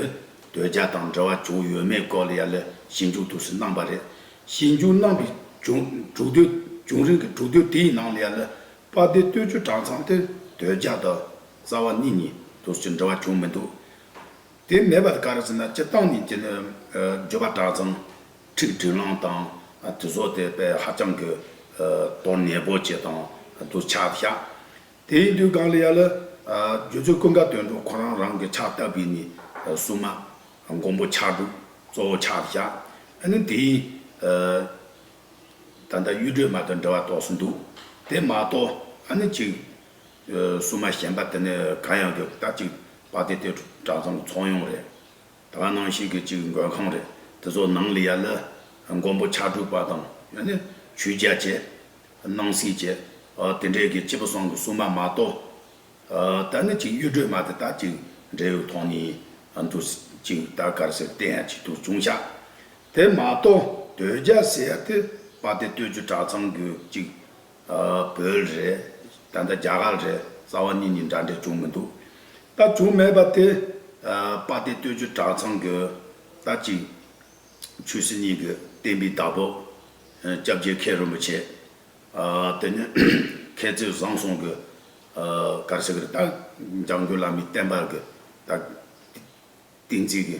དོལ་རྒྱལ་དང་འབྲེལ་བ་བྱུང་ཡོད་མེད་སྐོར་ལ་ཡ་ལེར་ཞིབ་འཇུག་ཏུ་སུས་གནང་པ་རེད། ཞིབ་འཇུག་གནང་པའི་བྱུང་དྲུག་དོལ་བྱུང་རིང་གི་དྲུག་དོལ་དེའི་ནང་ལ་ཡ་ལེར་དཔག་དེ་ལྟོས་ཀྱི་གྲངས་ཚང་དེ་དོལ་རྒྱལ་དང་རྩ་བ་གཉིས་གཉིས་དུས་ཀྱི་འབྲེལ་བ་བྱུང་མི་འདུག། དེ་མེད་པར་ག་རེ་ཟེར་ན་སྤྱིར་བཏང་གི་རྒྱུ་ནི་བརྗོད་པ་གྲགས་ཙང་ཁྲིགས་དྲིས་ལངས་དང་དུས་བཟོ་དེ་དཔེ་ཧ་ཅང་གི་དོན་གནས་པོ་བྱེད་དང་དུ་ཆ་བཞག་དེ་ཡིན་དུས་གང་ལ་ཡ་ལ་རྒྱུ་ཆོས་ཀུན་དགའ་དོན་གྲུབ་ཁོ་རང་རང་གི་ཆ་ལྟ་བུས་ནི་གསུངས་མ་མགོན་པོ་ཕྱག་དྲུག་གཙོ་བོ་ཆ་བཞག་ཨ་ནི་དེ་ཡིན། ད་ལྟ་གཡུ་སྒྲོལ་མ་དང་འབྲེལ་བ་དོགས་སུ་འདུག་དེ་མ་གཏོགས་ཨ་ནི་གཅིག་སྲུང་མ་གཞན་པ་དེ་ནི་གར་ཡང་དགོས་སྟབས་གཅིག་པ་དེ་དེ་གྲྭ་ཚང་ཚོགས་ཡོང་རེད། ད་བར་ནང་བཞིན་གྱི་གཅིག་མགོན་ཁང་རེད་དེ་ཚོ་ནང་ལ་ཡར་ལ་མགོན་པོ་ཕྱག་དྲུག་པ་དང་ཡང་ན་ཆོས་རྒྱལ་བཅས་སྣང་སྲིད་བཅས་དེ་འདྲས་ཀྱི་སྤྱི་བོ་བསང་གི་སྲུང་མ་མ་གཏོགས། ད་ནི་གཅིག་གཡུ་སྒྲོན་མ་དེ་དག་གཅིག་འབྲས་བུ་ཐོག་ནས་འདུག་གཅིག་ད་གར་ཟེར་བལྟས་ཡང་གཅིག་ཏུ་ཅུང་ཤ་དེ་མ་གཏོགས་དོལ་རྒྱལ་ཟེར་དེ་པ་དེ་སྟོད་ཀྱི་གྲྭ་ཚང་གི་གཅིག་བོད་རེད་ད་ལྟ་རྒྱ་གར་རེད་རྩ་བ་གཉིས་གཉིས་འདྲ་འདྲ་བྱུང་མི་འདུག་ད་བྱུང་མེད་པ་དེ། དཔའ་སྡེ་སྟོད་ཆུ་བྲག་ཚང་གི་ད་ཅིག། ཆོས་སྲིད་གཉིས་ཀྱི་བསྟན་པའི་བདག་པོ། སྐྱབས་རྗེ་མཁས་རིན་པོ་ཆེ། དེ་ནས་མཁས་བཙུན་བཟང་སོང་གི། གར་སེང་གི་ད་འཇམ་མགོན་བླ་མའི་བསྟན་པ་གི། ད། ཏིང་འཛིན་གི།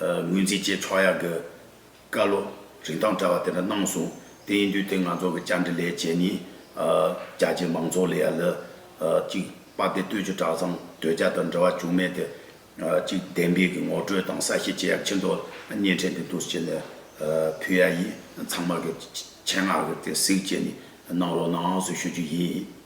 ངོས་འཛིན་བཅས་ཕྱོགས་ཡག་གི་བཀའ་སློབ་རིན་ཐང་བཀྲ་བ་དེ་འདྲ་གནང་སོང་དེ་ཡིན་དུས་དེ་ང་ཚོ་གི་བཅར་འདྲི་ལས་བྱེད་ནི། རྒྱ་ཆེའི་མང་ཚོགས་ལས་ཡ་ལི། གཅིག་དཔའ་སྡེ་སྟོད་ཀྱི་གྲྭ་ཚང་དོལ་རྒྱལ་དང་འབྲེལ་བ་བྱུང་མེད་དེ། གཅིག་བདེན་པའི་གི་ངོ་སྤྲོད་དང་གསལ་བཤད་བྱེད་ཡ་ཕྱིན་ཐོག་བརྙན་འཕྲིན་དེ་དུས་ཕྱིན་ནས་ཕུལ་ཡ་ཡིན་ཚང་མ་གི་ཆེད་མངགས་གི་དེ་གཟིགས་བྱས་ནས་གནང་རོགས་གནང་ངང་སུ་ཞུ་རྒྱུ་ཡིན།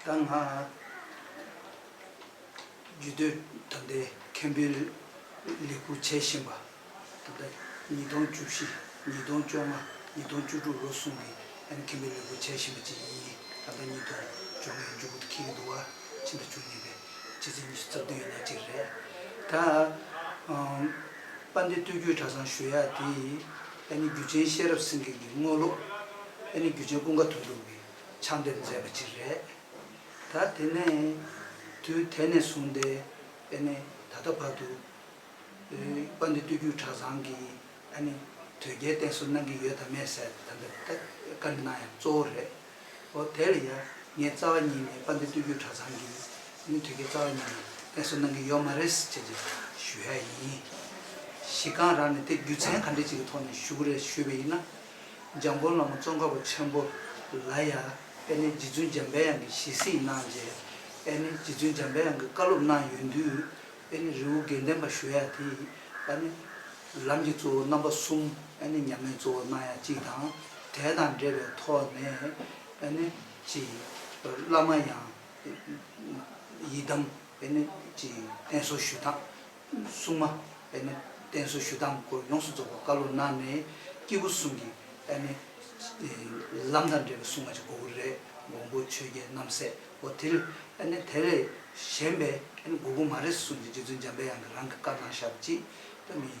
ད་སྔ། རྒྱུད་སྟོད་གྲམ་བདེ་མཁན་པོའི་ལས་ཁུར་བྱས་བཞིན་པ། ད་ལྟ་ཉིས་སྟོང་བཅུ་བཞི་ཉིས་སྟོང་བཅོ་ལྔ་ཉིས་སྟོང་བཅུ་དྲུག་ལོ་གསུམ་གྱི་ཨེམ་མཁན་པོའི་ལས་ཁུར་བྱས་བཞིན་པ་བཅས་ཡིན། ད་ལྟ་ཉིས་སྟོང་བཅོ་ལྔའི་མཇུག་གི་ཁེ་གི་དུ་བ་ཕྱི་ཟླ་བཅུ་གཉིས་པའི་ཕྱི་ཚེས་ཉི་ཤུ་རྩ་བདུན་ཡིན་ན་གཅིག་རེད། ད་པཎྜི་ཏི་སྟོད་རྒྱུད་གྲྭ་ཚང་ཞུ་ཡ་དེ་ཨེ་ནི་རྒྱུད་ཆེན་ཤེས་རབ་སེང་གེ་གི་དངོས་སློབ། ཨེ་ནི་རྒྱུད་ཆེན་ཀུན་དགའ་དོན་གྲུབ་ཀྱི་ཆགས་འདེབས་མཛད་པ་ཅིག་རེད། ད་དེ་ནས་དུས་དེ་ནས་བཟུང་སྟེ་ཨ་ནི་ད་ལྟ་བར་དུ། པ་འདི་སྟོད་རྒྱུད་གྲྭ་ཚང་གི་ཨ་ནི་དོལ་རྒྱལ་བསྟེན་གསོལ་གནང་གི་ཡོད་དམ་མེད་ཟེར་ད་ལྟ་བཀའ་འདྲི་གནང་ཡང་གཙོ་བོ་རེད། ཨོ་དེ་ལ་ཡང་ངས་རྩ་བ་ཉིད་ནས་པ་འདི་སྟོད་རྒྱུད་གྲྭ་ཚང་གི་ཨ་ནི་དོལ་རྒྱལ་རྩ་བ་ཉིད་ནས་བསྟེན་གསོལ་གནང་གི་ཡོད་མ་རེད་ཟེར་ཅེས་ཞུ་ཡ་ཡིན། གཞི་རྐང་རང་ནས་དེ་རྒྱུ་མཚན་ག་འདྲི་ཅིག་གི་ཐོག་ནས་ཞུ་གི་རེད་ཞུས་པ་ཡིན་ན། འཇམ་མགོན་བླ་མ་ཙོང་ཁ་པ་ཆེན་པོ་ལ་ཡང་ཨེ་ནི་རྗེ་བཙུན་འཇམ་དཔལ་དབྱངས་ཀྱི་ཞལ་གཟིགས་གནང་རྗེས་ཨེ་ནི་རྗེ་བཙུན་འཇམ་དཔལ་དབྱངས་ཀྱི་བཀའ་སློབ་གནང་ཡོད་དུས་ཨེ་ནི་རི་བོ་དགེ་ལྡན་པ་ཞུ་ཡ་དེས་ཨེ་ནི། ལམ་གྱི་གཙོ་བོ་རྣམ་པ་གསུམ་ཨེ་ནི་ཉམས་ལེན་གཙོ་བོ་གནང་ཡ་གཅིག་དང་གྲལ་དང་འབྲེལ་བའི་ཐོག་ནས་ཨེ་ནི། བླ་མ་ཡང། ཡི་དམ་ཨེ་ནི། བསྟེན་གསོལ་ཞུས་དང། སྲུང་མ་པདྨའི་རྟེན་སོགས་ཞུ་དང་སྐོར་ཡོངས་སུ་རྫོགས་པ་བཀའ་ལུང་གནང་ནས་སྐྱེས་བུ་གསུམ་གྱི་པདྨའི་ལམ་དང་འབྲེལ་བའི་སྲུང་མ་ཅིག་གོ་བུ་རའི་འགོང་པོ་ཆོས་རྒྱལ་རྣམ་སྲས་པོ་དེ་ལས་དེ་ལས་གཞན་པའི་གོ་བུ་མ་རེ་ཟུང་གིས་རྗེ་བཙུན་འཇམ་པའི་དབྱངས་ཀྱིས་རང་གི་བཀའ་གནང་ཞབས་ཀྱིས་པདྨའི།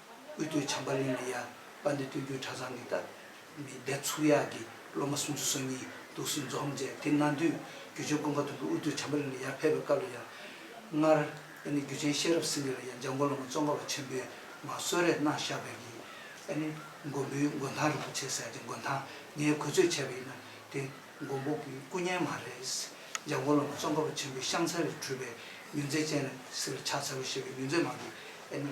དབུས་སྟོད་བྱམས་པ་གླིང་གི་ཡ་པ་འདི་སྟོད་རྒྱུད་གྲྭ་ཚང་གི་སྟབས་མི་བདེ་ཚུགས་ཡག་གི་སློབ་མ་སུམ་ཅུ་སོ་གཉིས་འདུག་སྲིད་འཛོམས་མཇལ་དེ་གནང་དུས་རྒྱུ་ཆོས་སྐུ་མཁའ་ཐུབ་ཀྱིས་དབུས་སྟོད་བྱམས་པ་གླིང་ལ་ཡར་ཕེབས་པའི་སྐབས་ལ་ཡང། སྔར། ཨ་ནི་རྒྱུ་ཆེན་ཤེས་རབ་སེང་གེ་ལ་ཡང་འཇམ་མགོན་བླ་མ་ཙོང་ཁ་བ་ཆེན་པོས་ང་གསོལ་རས་གནང་བཞག་པས་ཀྱི། ཨ་ནི། མགོན་པོའི་མགོན་ཐང་རིན་པོ་ཆེ་ཟེར་གྱི་མགོན་ཐང་ངས་གོ་ཚོད་བྱས་པ་ཡིན་ན་དེ་མགོན་པོ་གི་སྐུ་བརྙན་མ་རེད། འཇམ་མགོན་བླ་མ་ཙོང་ཁ་བ་ཆེན་པོའི་ཤངས་མཚལ་ལས་གྲུབ་པའི་མྱུར་མཛད་ཅན་ལ་སྲིད་ལ་ཕྱག་འཚལ་ལོ་ཞེས་པའི་མྱུར་མཛད་མང་གིས་ཨ་ནི།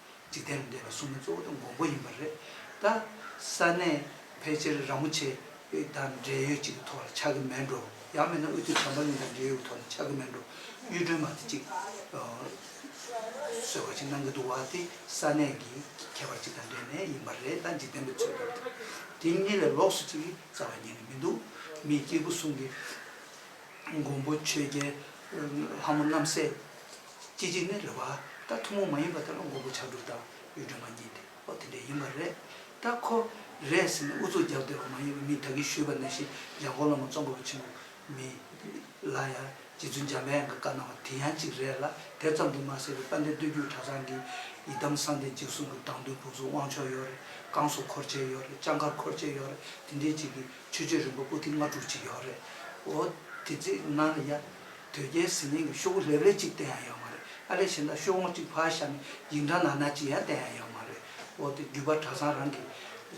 འཇིག་རྟེན་ལ་འདས་པ་གསུམ་ནི་གཙོ་བོ་དང་འགོང་པོ་ཡིན་པ་རེད་ད། ས་གནས་ཕལ་ཆེར་ར་མོ་ཆེ་དང་འབྲེལ་ཡོད་ཅིག་གི་ཐོག་ལ་ཆགས་ཀྱི་མེད་འགྲོ། ཡང་མིན་ན་དབུས་ཐུ་བྱང་པ་གླིང་དང་འབྲེལ་ཡོད་ཀྱི་ཐོག་ལ་ཆགས་ཀྱི་མེད་འགྲོ། གཡུ་སྒྲོན་མ་དེ་གཅིག་གསོལ་བ་ཅིག་གནང་གི་འདུག་བ་དེ་ས་གནས་ཀྱི་ཁྱད་པར་ཅིག་དང་འབྲེལ་ནས་ཡིན་པ་རེད་ད་འཇིག་རྟེན་པའི་ཚོད་དུ་དེ་གཉིས་ལས་ལོགས་སུ་ཅིག་རྩ་བ་ཉན་གི་མི་འདུག་མི་སྐྱེས་བུ་གསུམ་གྱི་འགོང་པོ་ཆོས་རྒྱལ་ལྷ་མོ་རྣམ་སྲས། སྐྱེ་འཇིག་ནི་རེ་བ་ལྟར་ཐུན་མོང་མ་ཡིན་པ་དེ་ལ་མགོན་པོ་ཕྱག་དྲུག་དང་གཡུ་སྒྲོན་མ་གཉིས་ཏེ་འོ་དེ་འདྲས་ཡིན་པ་རེད་ད་ཁོ། རེད་ཟེར་ནས་ཨུ་ཚུགས་རྒྱབ་སྡོད་པ་མ་ཡིན་པར་མི་དག་གིས་ཞུས་པ་ནང་བཞིན་འཇང་གོ་ལོ་མ་རྩོམ་པ་པོ་ཆེན་པོ་མི་ལ་ཡང་རྗེ་བཙུན་འཇམ་དཔལ་གྱི་བཀའ་གནང་བ་དེ་ཡང་གཅིག་རེད་ལ་དེ་ཙམ་དུ་མ་ཟད་པའི་དཔལ་ལྡན་སྟོད་རྒྱུད་གྲྭ་ཚང་གི་ཡི་དམ་བསམ་གཏན་འཇིགས་གསུམ་གྱི་བདག་མདུན་བུ་གཟུགས་དབང་ཕྱོགས་ཡོད་རེད་བསྐང་གསོ་འཁོར་བཅས་ཡོད་རེད་ལྕགས་མཁར་འཁོར་བཅས་ཡོད་རེད་དེ་འདྲས་གཅིག་གིས་ཆོས་སྤྱོད་རིམ་པ་པོ་ཏི་ལྔ་དྲུག་ཅིག་ཡོད་རེད་འོ་དེ་ཚེ་ན་ཡ། དོལ་རྒྱལ་ཟི་ལིང་གི་ཤོག་བུ་ལེབ་རེ་གཅིག་བསྟན་ཡང་ཡོད་མ་རེད་ཨ་རེ་བྱས་ན་ཤོག་ངོ་གཅིག་ཕར་བཞག་ནས་ཡིག་འབྲང་ནང་ན་གཅིག་ཡང་བསྟན་ཡང་ཡོད་མ་རེད་འོ་དེ་བརྒྱུད་པ་གྲྭ་ཚང་རང་གི་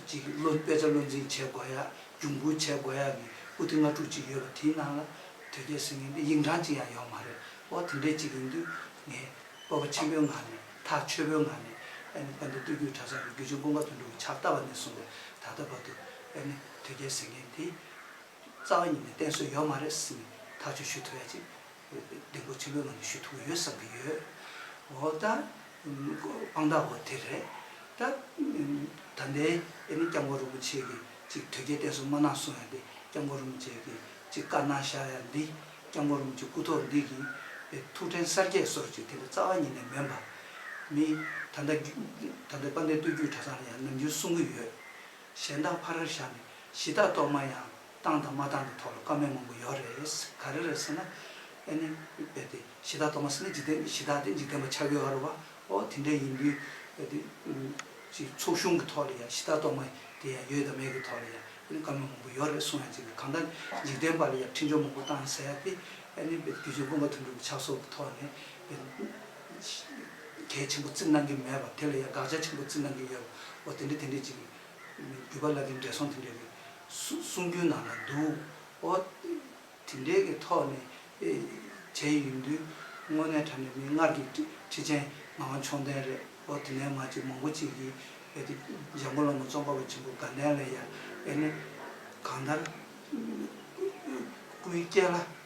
ཅིག་བློ་དཔེ་ཆ་བློ་འཛིན་བྱེད་དགོས་ཡག་རྒྱུགས་འབུལ་བྱེད་དགོས་ཡག་གི་པུ་ཏི་ལྔ་དྲུག་ཅིག་ཡོད་པ་དེའི་ནང་ལ་དོལ་རྒྱལ་ཟི་ལིང་གི་ཡིག་འབྲང་གཅིག་ཡང་ཡོད་མ་རེད་འོ་དེ་འདྲའི་ཅིག་ཡིན་དུས་ངས་སྤོབས་པ་ཆེན་པོའི་ངང་ནས་ཐག་ཆོད་པོའི་ངང་ནས་ཨ་ནི་དཔལ་ལྡན་སྟོད་རྒྱུད་གྲྭ་ཚང་གི་རྒྱུད་ཆེན་ཀུན་དགའ་དོན་གྲུབ་ཀྱི་ཕྱག་རྟགས་པ་ནས་བཟུང་བའི་ད་ལྟ་བར་དུ་ཨ་ནི་དོལ་རྒྱལ་ཟེར་མཁན་དེ། རྩ་བ་ཉིད་ནས་བསྟེན་སྲོལ་ཡོད་མ་རེད་བསམ་ནས་ཐག་གཅོད་ཞུ་ཐུབ་ཡ་ཅིག་བདེ་འགོད་ཆེན་པོའི་ངང་ནས་ཞུ་ཐུབ་ཀྱི་ཡོད་བསམ་གྱི་ཡོད། འོ་ད། དཔང་རྟགས་འོ་དེ་རེད། ད། ད་ལྟའི་ཨེ་ནི་སྐྱབས་མགོན་རིན་པོ་ཆེ་གིས་ཅིག་དོལ་རྒྱལ་བསྟེན་སྲོལ་མ་གནང་གསུང་ཡ་འདི་སྐྱབས་མགོན་རིན་པོ་ཆེ་གིས་ཅིག་བཀའ་གནང་བཞག་ཡ་འདི་སྐྱབས་མགོན་རིན་པོ་ཆེ་སྐུ་ཐོག་འདི་གི་ཐུགས་ཕྲེང་གསར་རྒྱས་སོར་ཅིག་དེ་འདྲ་རྩ་བ་ཉིད་ནས་མིན་པ། མི། ད་ལྟ། ད་ལྟའི་དཔལ་ལྡན་སྟོད་བརྒྱུད་གྲྭ་ཚང་ལ་ཡང་ནམ་རྒྱུན་གསུང་གི་ཡོད། གཞན་དག་ཕ་རར་བཞག་ནས་གཞི་བདག་གཏོར་མ་ཡང་བཏང་དང་མ་བཏང་གི་ཐོག་ལ་བཀའ་མོལ་མང་པོ་ཡོད་རེད། ག་རེ་རེད་ཟེར་ན། ཨེ་ནི། འོད་དེ། གཞི་བདག་གཏོར་མ་ཟེར་ན་འཇིག་རྟེན་གྱི་གཞི་བདག་དེ་འཇིག་རྟེན་པ་ཆགས་ཡོད་ར་བ། ཨོ་དེ་འདྲ་ཡིན་དུས། འོད་དེ། ཅིག་ཚོགས་གཞུང་གི་ཐོག་ལ་ཡང་གཞི་བདག་གཏོར་མ་དེ་ཡང་ཡོད་དང་མེད་ཀྱི་ཐོག་ལ་ཡང་ཨེ་ནི་བཀའ་མོལ་མང་པོ་ཡོད་རེད་གསུངས་ཡང་ཅིག་གི་གང་ལྟར་འཇིག་རྟེན་པ་ལ་ཡང་འཕྲིན་བཅོལ་མང་པོ་བཏང་ཟེར་ཏེ། ཨེ་ནི། རྒྱུ་བྱོན་དགོན་པ་དོན་གྲུབ་ཀྱི་ཕྱག་སོར་གྱི་ཐོག་ནས། གལ་ཆེན་པོ་བརྩི་གནང་གི་མེད་པ་དེ་ལ་ཡང་དགག་བྱ་ཆེན་པོ་བརྩི་གནང་གི་ཡོད་པ་འོ་དེ་འདྲས་དེ་འདྲས་ཅིག་བརྒྱུད་པ་བླ་རྒན་བགྲེས་སོང་དེ་འདྲས་ཀྱི་གསུང་རྒྱུན་ནང་ལ་འདུག་འོ་དེ་འདྲས་ཀྱི་ཐོག་ནས་བྱས་ཡོད་དུས་དངོས་གནས་དྲ་ནས་མིག་སྔར་གྱི་ཁྲི་ཆེན་ངག་དབང་མཆོག་ལྡན་རེད་འོ་དེ་ནས་མ་ཅིག་མང་པོ་ཅིག་གིས་གལ་ཏེ་འཇམ་མགོན་བླ་མ་ཙོང་ཁ་པ་ཆེན་པོ་དགའ་ལྡན་ལ་ཡང་ཨེ་ནི་གང་ལྟར་སྐུའི་སྐྱེས་ལྷ།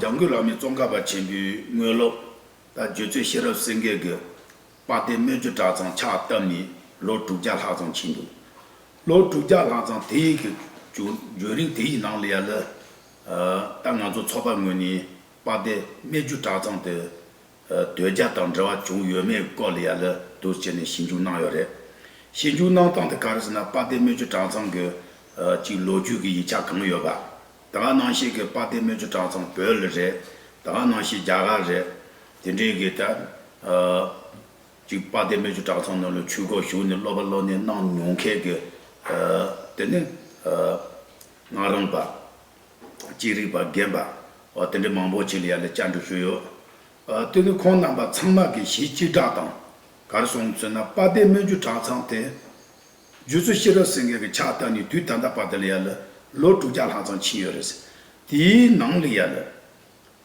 འཇམ་མགོན་བླ་མའི་ཙོང་ཁ་པ་ཆེན་པོའི་དངོས་སློབ། རྟ་རྒྱུད་མཚོའི་ཤེས་རབ་སེང་གེ་གི། དཔའ་གཏེར་སྣོད་བཅུད་གྲྭ་ཚང་ཕྱག་བཏབ་ནས་ལོ་དྲུག་བརྒྱ་ལྷག་ཙམ་ཕྱིན་འདུག། ལོ་དྲུག་བརྒྱ་ལྷག་ཙམ་དེ་ཡི་གི་བརྒྱུད་རིང་དེ་ཡི་ནང་ལ་ཡ་ལི། ད་ང་ཚོ་ཚོགས་པ་ངོས་ནས་དཔའ་གཏེར་སྣོད་བཅུད་གྲྭ་ཚང་དུ། དོལ་རྒྱལ་དང་འབྲེལ་བ་བྱུང་ཡོད་མེད་སྐོར་ལ་ཡང་ལད་ཟློས་བྱས་ནས་ཞིབ་འཇུག་གནང་ཡོད་རེད། ཞིབ་འཇུག་གནང་སྟངས་དེ་ག་རེ་ཟེར་ན་དཔལ་ལྡན་རྨེ་ཆུ་གྲྭ་ཚང་གི་གཅིག་ལོ་རྒྱུས་ཀྱི་ཡིག་ཆ་གང་ཡོད་པ། ད་ག་ནང་བཤད་གི་དཔལ་ལྡན་རྨེ་ཆུ་གྲྭ་ཚང་བོད་ལ་རེད། ད་ག་ནང་བཤད་རྒྱ་གར་རེད། དེ་འདྲའི་གི་ད་གཅིག་དཔལ་ལྡན་རྨེ་ཆུ་གྲྭ་ཚང་ནང་ལོ་ཆུས་སྐོར་ཞུགས་ནས་སློབ་པ་སློབ་གནས་གནང་མྱོང་མཁན་གི་དེ་ནི་ང་རང་པ། ཅི་རིགས་པ་རྒན་པ་དེ་འདྲའི་མང་པོ་ཞིག་ལ་ཡར་ལས་བསྐྱར་འགྲོས་ཞུས་ཡོད། དེ་ནི་ཁོང་རྣམ་པ་ཚང་མ་གི་གཞི་གཅིག་སྦྲགས་དང། གར་སོང་ཚུལ་ན་དཔའ་སྡེ་སྨོན་རྒྱུད་གྲྭ་ཚང་དེ། རྒྱུད་ཚོ་ཤེས་རབ་སེང་གེ་གི་ཕྱག་བཏབ་ནས་དུས་ད་ལྟ་བར་དེ་ལ་ཡར་ལས་ལོ་དྲུག་བརྒྱ་ལྷག་ཙམ་ཕྱིན་ཡོད་རེད། དེའི་ནང་ལ་ཡར་ལས།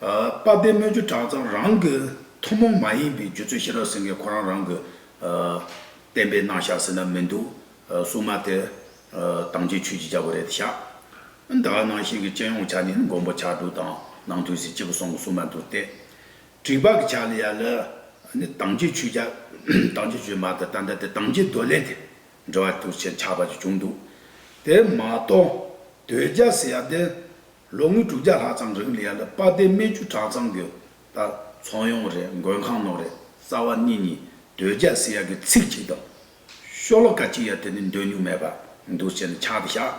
དཔའ་དཔེ་སྨོས་ཅུ་གྲངས་ཙམ་རང་གི་ཐུན་མོང་མ་ཡིན་པའི་རྒྱུད་ཚོད་ཤེས་རབ་ཟེར་མཁན་ཁོ་རང་རང་གི་བསྟན་པའི་སྣང་བཞག་ཟེར་ན་མི་འདུག་སྲུང་མ་དེ་དྭངས་སྐྱིད་ཆོས་ཀྱི་བྱ་བ་རེད་དེ་ཤག་འདི་ག་ནང་བཞིན་གྱི་སྤྱི་ཡོངས་ཆ་ནས་མགོན་པོ་ཕྱག་དྲུག་དང་ནང་དུ་གཟི་བརྗིད་ཀྱི་གསུང་གི་སྲུང་མ་འདུག་སྟེ། དྲིལ་བག་གི་ཕྱག་ལས་ཡ་ལ་ནི་དྭངས་སྐྱིད་ཆོས་བྱ། དྭངས་སྐྱིད་ཆོས་མ་དང་ཏན་ཏན་དེ་དྭངས་སྐྱིད་འདོད་ལེན་དེ་འབྲེལ་བ་དུ་ཆེ་ཆགས་པ་ཅིག་བྱུང་འདུག་དེ་མ་གཏོགས་དོལ་རྒྱལ་ཟེར་ཡ་འདི་ལོ་ངོ་དྲུག་བརྒྱ་ལྷག་ཙམ་རིང་ལི་ཡ་ལ་སྤ་སྡེ་རྨེ་ཆུ་བྲག་ཚང་གི་ལྟར་ཚོང་ཡོང་རེས་མགོན་ཁང་ནོར་རེས་རྩ་བ་གཉིས་གཉིས་དོལ་རྒྱ་སི་ཡ་གི་ཚིག་གཅིག་དང། ཤོ་ལོ་ཀ་གཅིག་ཡ་དེ་ནི་འདོད་མྱོང་མེད་པར་འདུག་བྱས་ནས་ཕྱག་དེ་བཞག།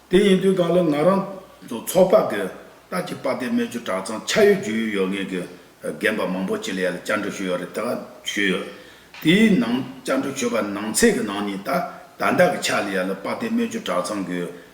དེ་ཡིན་དུས་གང་ལ་ང་རང་ཚོ་ཚོགས་པ་གི་ལྟར་གྱི་སྤ་སྡེ་རྨེ་ཆུ་བྲག་ཚང་ཆ་ཡོད་རྒྱུས་ཡོད་ཡོད་ངེས་ཀྱི་རྒན་པ་མང་པོ་ཅིག་ལི་ཡ་ལ་བཅར་འདྲི་ཞུས་ཡོད་རེད་དེ་ག་ཞུས་ཡོད། དེའི་ནང་བཅར་འདྲི་ཞུས་པ་ནང་ཚེག་གི་ནང་ནས་ད་ད་ལྟ་གི་ཆ་ལི་ཡ་ལ་སྤ་སྡེ་རྨེ་ཆུ་བྲག་ཚང་གི་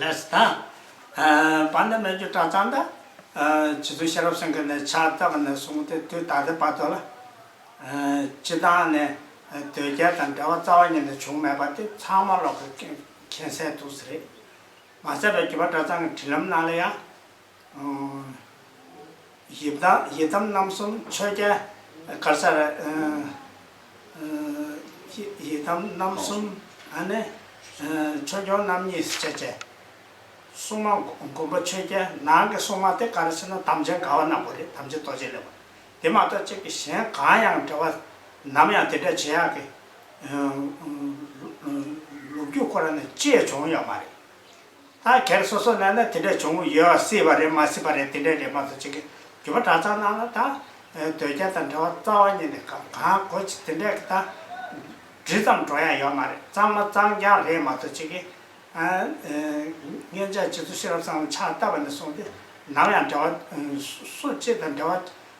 ལས་དང། བར་ནི་སྨན་ཆུ་བཀྲག་མཚམས་དང། ཇི་ཚོན་ཤེས་རབ་སེང་གེ་ནི་ཕྱག་བཏབ་པ་ནས་བཟུང་སྟེ་དུས་ད་ལྟའི་བར་དུ་ལ། སྤྱི་བཏང་ནས་དོལ་རྒྱལ་དང་འབྲེལ་བ་རྩ་བ་ཉིད་ནས་བྱུང་མེད་པ་དེ་ཚང་མ་ལོག་གི་མཁྱེན་གསལ་འདུག་ཟེར། མ་ཟད་པའི་བརྒྱུད་པ་གྲྭ་ཚང་གི་དྲིན་ལམ་ནང་ལ་ཡང། ཡི་དམ་རྣམ་གསུམ་མཆོད་རྒྱལ་དཀར་ས་ར། ཡི་དམ་རྣམ་གསུམ་མཆོད་སྐྱོང་རྣམ་གཉིས་སྤྱད་བཅས། སྲུང་མ་མགོན་པོ་མཆོད་རྒྱལ་ནང་གི་སྲུང་མ་དེ་ག་རེ་ཟེར་ན་དམ་ཅན་དགའ་བ་ནག་པོ་རེད་དམ་ཅན་རྡོ་རྗེ་ལེགས་པ་དེ་མ་གཏོགས་གཅིག་གི་གཞན་གང་ཡང་འབྲེལ་བ་ནམ་ཡང་དེ་འདྲ་བྱེད་ཡག་གི། ལུགས་རྒྱུད་ཁོ་ར་ནས་བཅས་བྱུང་ཡོད་མ་རེད། ལྷ་ཁྱེར་སོ་སོ་ན་ན་དེ་འདྲ་བྱུང་ཡོད་སྲིད་པ་རེད་མ་སྲིད་པ་རེད་དེ་འདྲའི་རེད་མ་གཏོགས་ཅི་གི་རྒྱུ་བ་གྲྭ་ཚང་ནང་ལ་ད་དོལ་རྒྱལ་དང་འདྲ་བ་རྩ་བ་ཉིད་ནས་གང་གང་གོ་ཅི་དེ་འདྲས་ཀྱི་ད་འབྲི་ཙམ་འགྲོ་ཡ་ཡོད་མ་རེད་གཙང་མ་གཙང་རྐྱང་རེད་མ་གཏོགས་ཅི་གི། མཁན་ཆགས་རྗེ་བཙུན་ཤེས་རབ་ཚང་ལ་ཕྱག་བཏབ་པ་ནས་བཟུང་སྟེ་ནམ་ཡང་འདྲ་བ་སུ་གཅིག་དང་འདྲ་བ།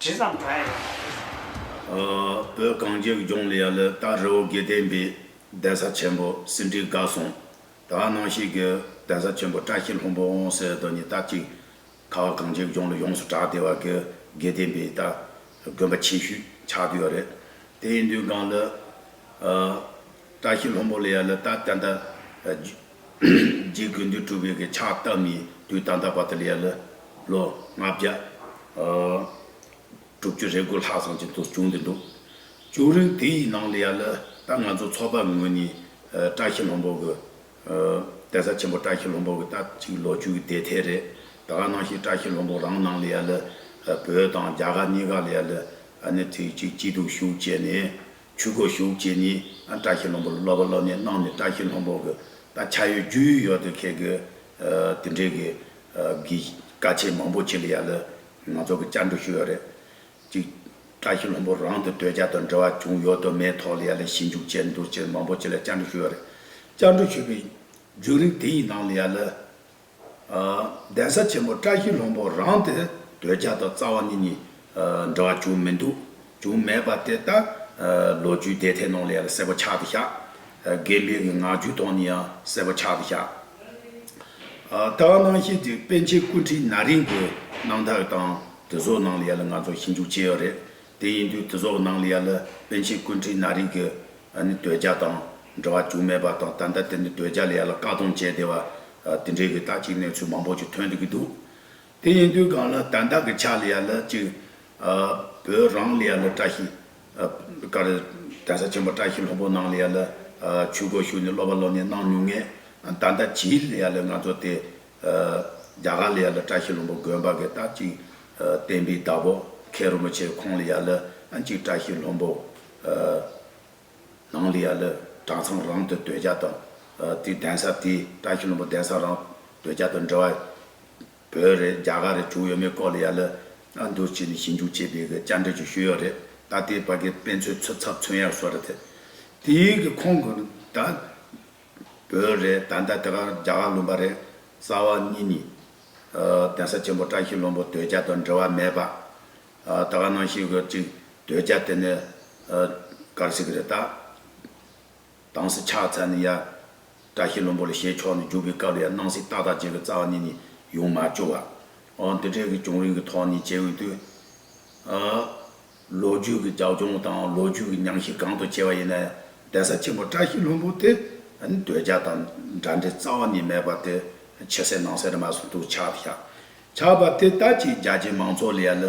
དྲི་བཟང་དག་ཡང་མ་ལུས། བོད་གངས་ཅན་གྱི་ལྗོངས་ལ་ཡ་ལི་སྟག་རི་བོ་དགེ་ལྡན་པའི་གདན་ས་ཆེན་པོ་ཟིན་བྲིས་དགའ་གསུང་དག་སྣང་ཞིག་གི་གདན་ས་ཆེན་པོ་བཀྲ་ཤིས་ལྷུན་པོ་འོང་ཟེར་དོན་ནི་དར་གཅིག་ཁ་བ་གངས་ཅན་གྱི་ལྗོངས་ལ་ཡོངས་སུ་གྲགས་བདེ་བ་གི་དགེ་ལྡན་པའི་སྟག་དགོན་པ་ཆེ་ཤོས་ཆགས་བསྡད་ཡོད་རེད། དེ་ཡིན་དུས་གངས་ལི། བཀྲ་ཤིས་ལྷུན་པོ་ལ་ཡ་ལི་སྟག་གདན་ད། རྗེ་དགོས་འདོད་གྲུབ་འོད་ཀྱི་ཕྱག་བཏབ་ནས་དུས་ད་ལྟ་བར་དུ་ལས་ལོ་ལྔ་བརྒྱ་དྲུག་ཅུ་རེ་དགུ་ལྷག་ཙམ་གྱི་འདུག་བྱུང་འདི་འདུག་བྱུང་རིང་དེ་ཡི་ནང་ལ་ཡ་ལ་ད་ང་ཚོ་ཚོགས་པ་ངོས་ནས་བཀྲ་ཤིས་ལྷུན་པོ་གི། གདན་ས་ཆེན་པོ་བཀྲ་ཤིས་ལྷུན་པོ་གི་ད་ཅིག་ལོ་བཅུའི་བདེ་ཐེག་རེ་ད་ག་ནང་ཞིག་བཀྲ་ཤིས་ལྷུན་པོ་རང་ནང་ལ་ཡ་ལ་བོད་དང་རྒྱ་གར་གཉིས་ཀ་ལ་ཡ་ལ་ཨ་ནི་དུས་གཅིག་སྐྱིད་སྡུག་བཞུགས་བྱས་ནས་ཆོས་སྒོ་ཞུགས་བྱེད་ནི་བཀྲ་ཤིས་ལྷུན་པོར་སློབ་པ་སློབ་གནས་གནང་ནས་བཀྲ་ཤིས་ལྷུན་པོ་གི་ད་ཆ་ཡོད་རྒྱུས་ཡོད་ཡོད་དུ་འཁེལ་དགོས། དེ་འབྲེལ་གྱི་གི་བཀའ་ཆད་མང་པོ་ཆེ་ལ་ཡ་ལ་ང་ཚོ་གི་བཅར་འདྲི་ཞུ་ཡོད་རེད། གཅིག། བཀྲ་ཤིས་ལྷུན་པོ་རང་དུ་སྡོད་བྱ་དང་འབྲེལ་བ་བྱུང་ཡོད་དུ་མེད་ཐོག་ལ་ཡ་ལ་ཞིབ་འཇུག་བྱས་འདུག་ཕྱིར་མང་པོ་ཆེ་ལ་བཅར་འདྲི་ཞུ་ཡོད་རེད། བཅར་འདྲི་ཞུས་པའི་རྒྱུན་རིང་དེ་ཡི་ནང་ལ་ཡ་ལ། གདན་ས་ཆེན་པོ་བཀྲ་ཤིས་ལྷུན་པོ་རང་དེ་དོལ་རྒྱལ་དང་རྩ་བ་ནི་གཉིས་འདྲ་བ་བྱུང་མི་འདུག་བྱུང་མེད་པ་དེ་ལྟར་ལོ་རྒྱུས་དེ་ཐད་ནང་ལས་ལ་གསལ་པོ་ཆགས་ཏེ་བཞག། དགེ་འདུན་གྱི་ངག་རྒྱུན་ཐོག་ནས་ཡང་གསལ་པོ་ཆགས་ཏེ་བཞག། ལྟ་བ་སྣང་ཤེས་དེ་པཎ་ཆེན་སྐུ་ཕྲེང་ན་རིང་གི་གནང་ཐག་དང་དེ་བཟོ་ནང་ལས་ལ་ང་ཚོ་ཞིབ་འཇུག་བྱས་ཡོད་རེད་དེ་ཡིན་དུས་དེ་བཟོ་ནང་ལས་ལ་པཎ་ཆེན་སྐུ་ཕྲེང་ན་རིང་གི་ཨ་ནི་འདོད་ཆགས་དང་འདྲ་བ་རྒྱུ་མེད་པ་དང་ད་ལྟ་དེ་འདི་འདོད་ཆགས་ལས་ཡར་ལ་བཀག་སྡོམ་བྱས་བསྡད་པ། དེ་འདྲའི་གི་ད་ཅིག་གནས་ཚུལ་མང་པོ་ཅིག་ཐོན་འདོད་ཀྱི་འདུག་དེ་ཡིན་དུས་གང་ལ་ད་ལྟ་གི་ཆགས་ལ་ཡར་ལ་ཅིག། བོད་རང་ལ་ཡར་ལ་བཀྲ་ཤིས། ཀར་གདན་ས་ཆེན་པོ་བཀྲ་ཤིས་ལྷུན་པོ་ནང་ལ་ཡར་ལ་ཆོས་སྒོ་ཞུགས་ནས་སློབ་པ་སློབ་གཉེར་གནང་མྱོང་ངེས། ད་ལྟ་ཇི་ལ་ཡར་ལ་ང་ཚོ་དེ། རྒྱ་གར་ལ་ཡར་ལ་བཀྲ་ཤིས་ལྷུན་པོ་དགོན་པ་གི་ད་ཅིག། བསྟན་པའི་བདག་པོ་མཁན་རིན་པོ་ཆེ་ཁོང་ལ་ཡར་ལ་ཅིག་བཀྲ་ཤིས་ལྷུན་པོ། ནང་ལི་ཡ་ལི་གྲྭ་ཚང་རང་དུ་སྡོད་རྒྱ་དང་དེའི་གདན་ས་དེ་བཀྲ་ཤིས་ལྷུན་པོ་གདན་ས་རང་སྡོད་རྒྱ་དང་འབྲེལ་བ་བོད་རེད་རྒྱ་གར་རེད་དྲུག་ཡོད་མེད་སྐོར་ལི་ཡ་ལི་ཨ་འདུར་བྱས་ནས་ཞིབ་འཇུག་བྱས་པའི་དཔྱད་འབྲས་ཀྱི་ཤོད་ཡོད་རེད་ད་ལྟའི་བར་གྱི་དཔེ་མཚོན་ཚུད་ཚབ་མཚོན་ཡག་བཟོ་རེད་དེ་ཡིན་གྱི་ཁོང་གི་ད་བོད་རེད་ད་ལྟ་དེ་གར་རྒྱ་གར་ལུང་པ་རེད་རྩ་བ་གཉིས་ནི་གདན་ས་ཆེན་པོ་བཀྲ་ཤིས་ལྷུན་པོ་སྡོད་རྒྱ་དང་འབྲེལ་བ་མེད་པ་ད་ག་ནང་བཞིན་གྱི་ཅིག་སྡོད་རྒྱ་དེ་ནི་གར་སིག་རེད་ད། དང་སི་ཕྱག་འཚལ་ནི་ཡ། བཀྲ་ཤིས་བློན་པོ་ལ་ཞེས་ཕྱོགས་ནས་བརྒྱུགས་པའི་སྐབས་ལ་ཡ་སྣང་སིག་ཏག་ཏག་བྱེད་ཀྱི་རྩ་བ་ནས་ནི་ཡོང་མ་བཅུག་ཨ། འོ་འདི་འདྲའི་གི་བྱུང་རིམ་གྱི་ཐོག་ནས་བྱེད་འོས་དུས། ཨ། ལོ་རྒྱུས་ཀྱི་རྒྱབ་ལྗོངས་དང་ལོ་རྒྱུས་ཀྱི་ཉམས་ཤིག་གང་དུ་བྱས་པ་ཡིན་ན་ཡང་གདན་ས་ཆེན་པོ་བཀྲ་ཤིས་བློན་པོ་དེ་ནི་སྡོད་རྒྱ་དང་འདྲ་འདྲའི་རྩ་བ་ནས་མེད་པ་དེ་ཕྱི་གསལ་ནང་གསལ་རེད་མ་གསུངས་འདུག་ཕྱག་འཚལ། ཆགས་པ་དེ་ལྟ་ཅི་རྒྱ་ཆེ་མང་ཚོགས་ལ་ཡ་ལ་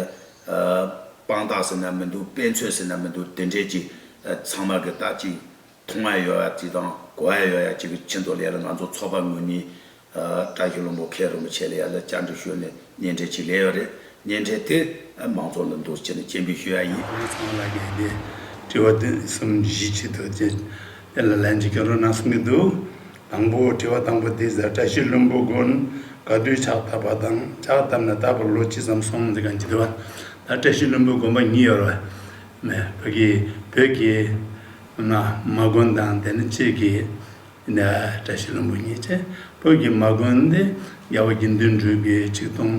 དཔང་རྟགས་ཟེར་ན་མི་འདུག་དཔེ་མཚོན་ཟེར་ན་མི་འདུག་དེ་འདྲས་ཀྱི་ཚང་མ་གི་ལྟ་ཅི་མཐོང་ཡ་ཡོད་ཡ་ཅི་དང་གོ་ཡ་ཡོད་ཡ་ཅི་གི་ཁྱེད་ཚོ་ལ་ཡ་ལ་ང་ཚོ་ཚོགས་པ་ངོས་ནས་བཀྲ་ཤིས་ལོན་པོ་མཁན་རིན་པོ་ཆེ་ལ་ཡ་ལ་བཅར་འདྲི་ཞུས་ནས་ཉན་འདྲས་ཅི་ལས་ཡོད་རེད་ཉན་འདྲས་དེ་མང་ཚོགས་ལ་འདུར་བྱས་ནས་སྤྱན་འབུལ་ཞུས་ཡ་ཡིན། ང་ཚང་ལ་གི་དེ་དྲི་བ་དོན་གསུམ་བཞི་བྱས་འདུག་ཅེས་དེ་ལ་ལན་ཅི་བསྐྱོན་རོགས་གནང་གསུང་གི་འདུག་དང་པོ་དྲི་བ་དང་པོ་འདི་ཟེར་བཀྲ་ཤིས་བློན་པོ་དགོན་དགའ་བདུད་ཕྱག་བཏབ་པ་དང་ཕྱག་བཏབ་ནས་ད་བར་ལོ་ཅི་ཙམ་སོང་འདི་གང་གི་དྲི་བ་ད་བཀྲ་ཤིས་བློན་པོའི་དགོན་པ་ཉིད་ཡོད་རེད་བོད་ཀྱི་བོད་ཀྱི་ན་མ་དགོན་དང་དེ་ནི་གཅིག་གི་ན་བཀྲ་ཤིས་བློན་པོ་ཉིད་ཅེས་བོད་ཀྱི་མ་དགོན་འདི་རྒྱལ་བ་དགེ་འདུན་གྲུབ་ཀྱི་ཆིག་སྟོང་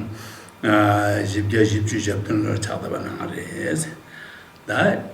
བཞི་བརྒྱ་བཞི་བཅུ་ཞབས་དོན་ལོར་ཕྱག་བཏབ་པ་གནང་བ་རེད།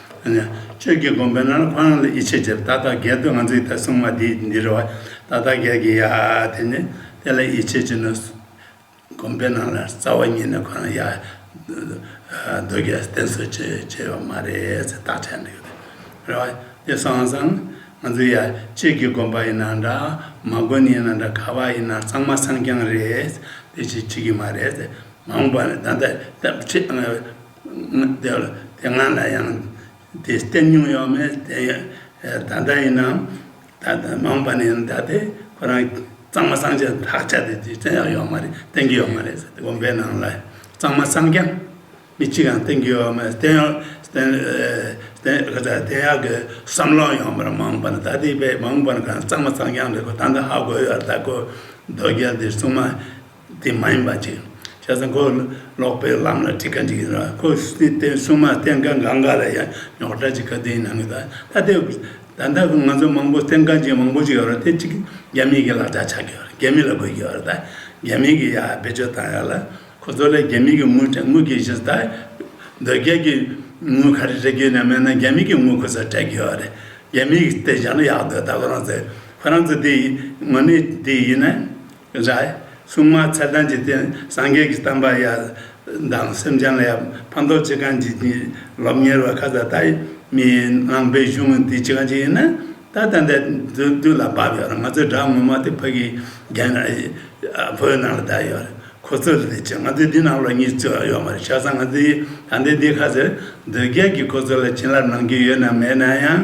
ཁྱོད་ཀྱིས་དགོངས་པའི་ནང་ལ་ཁོ་རང་ལ་ཡིད་ཆེས་བྱེད་པ་ད་ལྟ་རྒས་དུས་ང་ཚོ་ཡི་ད་སྲུང་མ་དེ་འདི་རེད་བ། ད་ལྟ་རྒས་ཀྱི་ཡ་དེ་ནི་དེ་ལ་ཡིད་ཆེས་བྱེད་ན་དགོངས་པའི་ནང་ལ་རྩ་བ་ཉིད་ནས་ཁོ་རང་ཡ། རྡོ་རྒས་བསྟེན་གསོལ་བྱེད་བྱེད་པ་མ་རེད་ཟེར་རྟགས་འཆད་འདུག་རེད་བ། དེ་སང་སང་ང་ཚོ་ཡ་ཁྱེད་ཀྱིས་དགོངས་པ་ཡི་ན་འདྲ་མ་དགོན་ཡི་ན་འདྲ་ག་བ་ཡི་ན་གཙང་མ་སངས་རྒྱང་རེད་དེ་བྱེད་བྱེད་ཀྱི་མ་རེད་ཟེར་མ་འོངས་པ་ནི་ད་ལྟ་ལྟ་བྱེད། དེ་ང་ལ་ཡང་དེ་སྟེམ་མྱོང་ཡོད་མེད་ད་ལྟ་ཡིན་ནམ་ད་ལྟ་མང་པ་ནས་ད་ལྟའི་ཁོ་རང་གཙང་མ་སངས་རྒྱས་ལག་ཆ་དེ་རྗེས་བཙལ་ཡག་ཡོད་མ་རེད་བསྟན་གྱི་ཡོད་མ་རེད་དགོན་པའི་ནང་ལ་གཙང་མ་སངས་རྒྱས་མི་གཅིག་གམ་བསྟན་གྱི་ཡོད་མ་རེད་བསྟན་ཡག་བསྟན་ཡག་གི་བསམ་བློ་ཡོད་མ་རེད་མང་པ་ནས་ད་ལྟའི་བའི་མང་པ་ནས་གཙང་མ་སངས་རྒྱས་འདི་ད་ལྟ་ཧ་གོ་ཡོད་ད་གོ་རྡོ་རྗེ་འདི་གསུངས་མ། དེ་མ་ཡིན་པ་ཅིག་བྱས་ཙང་ཁོས་ཀློག་པའི་ལམ་ལ་དྲི་ཁ་འདྲི་གིན་རོགས་ཁོས་བསྟན་སྲུང་མ་བསྟན་དགའ་འགའ་འགའ་ལ་ཡང་ཉོག་དྲ་ཅིག་ག་དེའི་ནང་གི་ད་ལྟ་དེ་ད་ལྟ་ང་ཚོ་མང་པོ་བསྟན་དགའ་ཅན་མང་པོ་ཅིག་ཡོད་རེད་དེ་གཅིག་རྒྱ་མིའི་གི་ལག་ཆ་ཆགས་ཀྱི་ཡོད་རེད་རྒྱ་མི་ལ་དགོས་ཀྱི་ཡོད་རེད་ད་རྒྱ་མིའི་གི་ཡ་བེད་སྤྱོད་བཏང་ཡོད་ལ་ཁོ་ཚོ་ལས་རྒྱ་མིའི་གི་དངུལ་དྲ་དངུལ་གྱི་གཞི་ད་འདོད་རྒྱལ་གྱི་དངུལ་ག་རེ་དྲ་རྒྱུ་ནས་མེད་ན་རྒྱ་མིའི་གི་དངུལ་ཁོ་ཚོ་དྲ་གྱི་ཡོད་རེད་རྒྱ་མིའི་གི་བསྟན་བྱ་ལ་ཡག་འདོད་ད་ཁོ་རང་ཚོས་ཁོ་རང་ཚོས་དེ་ཡིན་ངོ་ནས་དེ་ཡིན་ན། རྭའི་སྲུང་མ་ཚེ་དང་འཇིག་རྟེན་སངས་རྒྱས་ཀྱི་གཏམ་པ་ཡ། དང་སེམས་ཅན་ལ་ཡབ་ཕམ་རྡོ་རྗེ་གང་ཇི་བཞིན་སློབ་གཉེར་བ་ཁ་ཟ་ཐ་མི་ནང་པའི་གཞུང་དངོས་འདི་ཅི་གང་ཅི་ཡིན་ན། ད་ལྟ་འདས་དུས་ལ་བབ་ཡོད་རང་ང་ཚོའི་དགྲ་ངོ་མ་དེ་བོད་ཀྱི་རྒྱལ་ནང་བོད་ནང་ལ་བསྡད་ཡོད་རེད་ཁོ་ཚོས་ལས་བྱེད་ང་ཚོའི་འདི་ནང་ལོག་གཉིས་རྩོད་ཡོད་མ་རེད་ཤ་ཚ་ང་ཚོའི་ད་ལྟའི་འདི་ཁ་ཟེར་འདོད་རྒྱལ་གྱིས་ཁོ་ཚོ་ལ་བྱིན་རླབས་གནང་རྒྱུ་ཡོད་ནམ་མེད་ན་ཡང་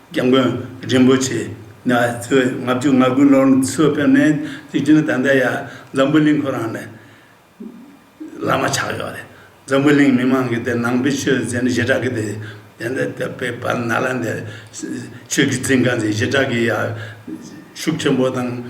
རྒྱལ་མགོན་རིན་པོ་ཆེ་ནས་གཙོས་ལྔ་བཅུ་ང་དགུའི་ལོར་འདི་ཚོ་ཕེབས་ནས་དུས་རྒྱུན་ད་ལྟ་ཡ་འཛམ་བུ་གླིང་ཁོ་རང་ནས་བླ་མ་ཆགས་ཡོད་རེད། འཛམ་བུ་གླིང་མི་མང་གིས་དེ་ནང་པའི་ཆོས་ཚན་བཞི་སྦྲགས་ཀྱི་དེ་འདི་དེ་པའི་བར་ན་ལ་འདིར་ཆོས་ཀྱི་ཚིག་འགའ་འཛིན་བཞི་སྦྲགས་ཀྱི་ཡ་ཤུགས་ཆེན་པོ་དང།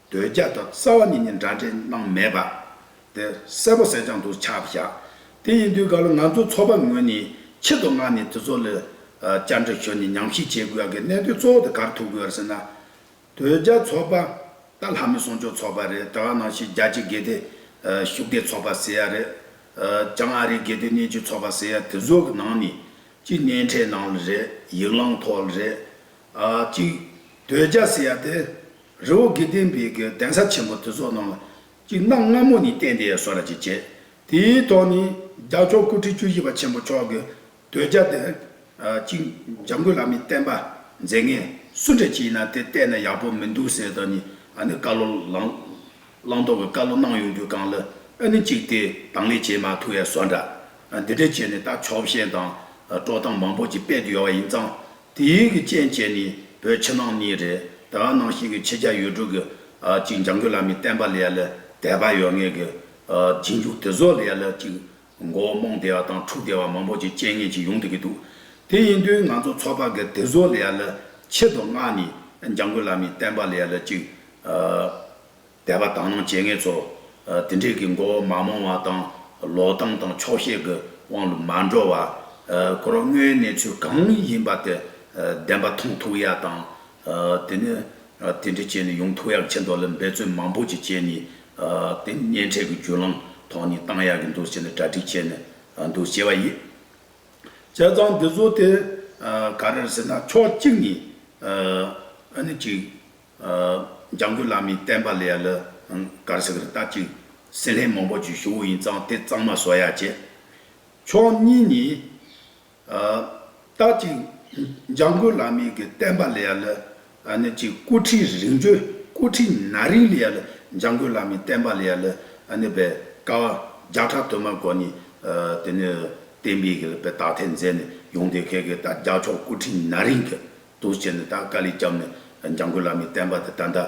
འདོད་རྒྱ་དང་གསལ་བ་གཉིས་ནི་འདྲ་འདྲེས་སྣང་མེད་པ། དེ་གསལ་པོ་གསལ་རྐྱང་དུ་ཆགས་པར་བྱ། དེ་ཡིན་དུས་ག་ལ་ང་ཚོ་ཚོགས་པ་ངོས་ནས་ཁྱི་དོ་ང་ནི་དེ་ཚོ་ལ་བཅར་འདྲི་ཞུས་ནས་ཉམས་ཞིབ་བྱེད་དགོས་ཡག་གི་གནད་དོན་གཙོ་བོ་དེ་གར་ཐུག་དགོས་ཡར་ཟེར་ན། འདོད་རྒྱ་ཚོགས་པ་ད་ལྷ་མི་སྲུང་སྐྱོབ་ཚོགས་པ་རེད་ད་ག་ནང་བཞིན་རྒྱ་ཆེ་དགེ་དེ་ཤུགས་ལྡན་ཚོགས་པ་ཟེར་ཡ་རེད། བྱང་ཨ་རི་དགེ་དེ་སྣེ་འཁྲིད་ཚོགས་པ་ཟེར་ཡ་དེ་ཚོ་གི་ནང་ནས་ཅི་སྣེ་འཁྲིད་གནང་ལ་རེད་ཡིག་ལང་ཐོག་ལ་རེད། གཅིག། དོལ་རྒྱ་ཟེར་ཡ་དེ། རི་བོ་དགེ་ལྡན་པའི་གི་གདན་ས་ཆེན་པོ་དེ་ཚོ་ནང་ལ། གཅིག་གནམ་སྔ་མོ་ནས་བསྟན་ཏེ་སོ་ར་ཅིག་བྱས། དེའི་ཐོག་ནས་རྒྱ་མཆོག་སྐུ་ཕྲེང་བཅུ་བཞི་པ་ཆེན་པོ་མཆོག་གི་དོལ་རྒྱ་དེ། གཅིག་འཇམ་མགོན་བླ་མའི་བསྟན་པ་མཛད་ངས་སུ་འདྲ་བྱས་ན་དེ་བསྟན་ན་ཡག་པོ་མི་འདུག་ཟེར་དོ་ནས་ཨ་ནི་བཀའ་ལོ་བླང་དོགས་ཀྱི་བཀའ་ལོ་གནང་ཡོང་རྒྱུ་གང་ལ་ཨ་ནི་གཅིག་དེ་དང་ལས་བྱེད་མ་ཐུག་ཡ་སོ་འདྲ་འདི་འདྲ་བྱས་ནས་ད་ཕྱོགས་ཞེན་དང་སྤྲོ་སྟངས་མང་པོ་ཅིག་སྤེལ་དུ་ཡོང་བ་ཡིན་ཙང་དེ་ཡུལ་གྱི་སྤྱན་བྱས་ནས་བོད་ཕྱི་ནང་གཉིས་རེད་ད་ནང་བཞིན་གྱི་ཕྱི་རྒྱ་ཡུལ་གྲུ་གི་གཅིག་འཇམ་རྒོད་བླ་མའི་བསྟན་པ་ལ་ཡ་ལ་དད་པ་ཡོད་ངེས་གི་རྗེས་འཇུག་དེ་ཚོ་ལ་ཡ་ལ་གཅིག་མགོ་བོ་རྨོངས་བདེ་བ་དང་འཁྲུག་བདེ་བ་མང་པོ་གཅིག་སྤྱན་ངན་གཅིག་ཡོང་སྡོད་ཀྱི་འདུག་དེ་ཡིན་དུས་ང་ཚོ་ཚོགས་པ་གི་དེ་ཚོ་ལ་ཡ་ལ་ཆེད་དུ་མངགས་ནས་འཇམ་རྒོད་བླ་མའི་བསྟན་པ་ལ་ཡ་ལ་གཅིག་དད་པ་དག་སྣང་བྱེད་ངེས་སོ། དེ་འབྲེལ་གྱི་མགོ་བོ་མ་རྨོངས་བ་དང། ལོག་གཏམ་དང་ཆོག་ཤེས་ཀྱི་དབང་ལུང་མ་འགྲོ་བ། ཁོ་རང་དངོས་ཡོད་གནས་ཚུལ་གང་ཡིན་པ་དེ་བདེན་པ་མཐོང་ཐུབ་ཡག་དང། དེ་ནས་དེ་འབྲེལ་བྱས་ནས་ཡོང་ཐུབ་ཡག་ཆེ་མདོ་ལ་འབད་རྩོལ་མང་པོ་ཅིག་བྱས་ནས་དེ་གཉེན་འཕྲད་ཀྱི་བརྒྱུད་ལམ་ཐོག་ནས་བཏང་ཡག་གི་འདུག་ཟེར་ནས་གྲ་སྒྲིག་བྱས་ནས་འདུག་ཅེས་པ་ཡིན། བྱས་ཙང་འདི་ཚོ་དེ་ག་རེར་ཟེར་ན་ཕྱོགས་གཅིག་ནས་ཨ་ནི་གཅིག། ལྗང་གུ་བླ་མའི་བསྟན་པ་ལས་ལ་གར་ཟིག་རི་སྟབས་ཅིག། སྲིན་ལྷའི་མང་པོ་རྒྱུད་ཞི་བོ་ཡིན་ཙང་དེ་གཙང་མ་བཟོ་ཡ་བྱེད། ཕྱོགས་གཉིས་ནས། སྟབས་ཅིག། ལྗང་གུ་བླ་མའི་གི་བསྟན་པ་ལས་ལ་ནི་ཅིག་སྐུ་ཁྲི་རིང་བརྗོད་སྐུ་ཁྲི་ན་རིང་ལས་ལ་ལྗང་གུ་བླ་མའི་བསྟན་པ་ལས་ལ་ནི་བས་ཀ་བ་བརྒྱ་ཕྲག་དུ་མ་གོ་ནས་དེ་ནི་བསྟན་པའི་གི་བས་དག་ཐེར་མཛད་ནས་ཡོང་དེ་གས་གས་ད་རྒྱ་ཕྱོགས་སྐུ་ཁྲི་ན་རིང་གི། འདུག་བྱས་ནས་ད་དཀའ་ལས་བརྒྱབ་ནས་འཇང་དགུན་ལ་མའི་བསྟན་པ་དེ་ད་ལྟ་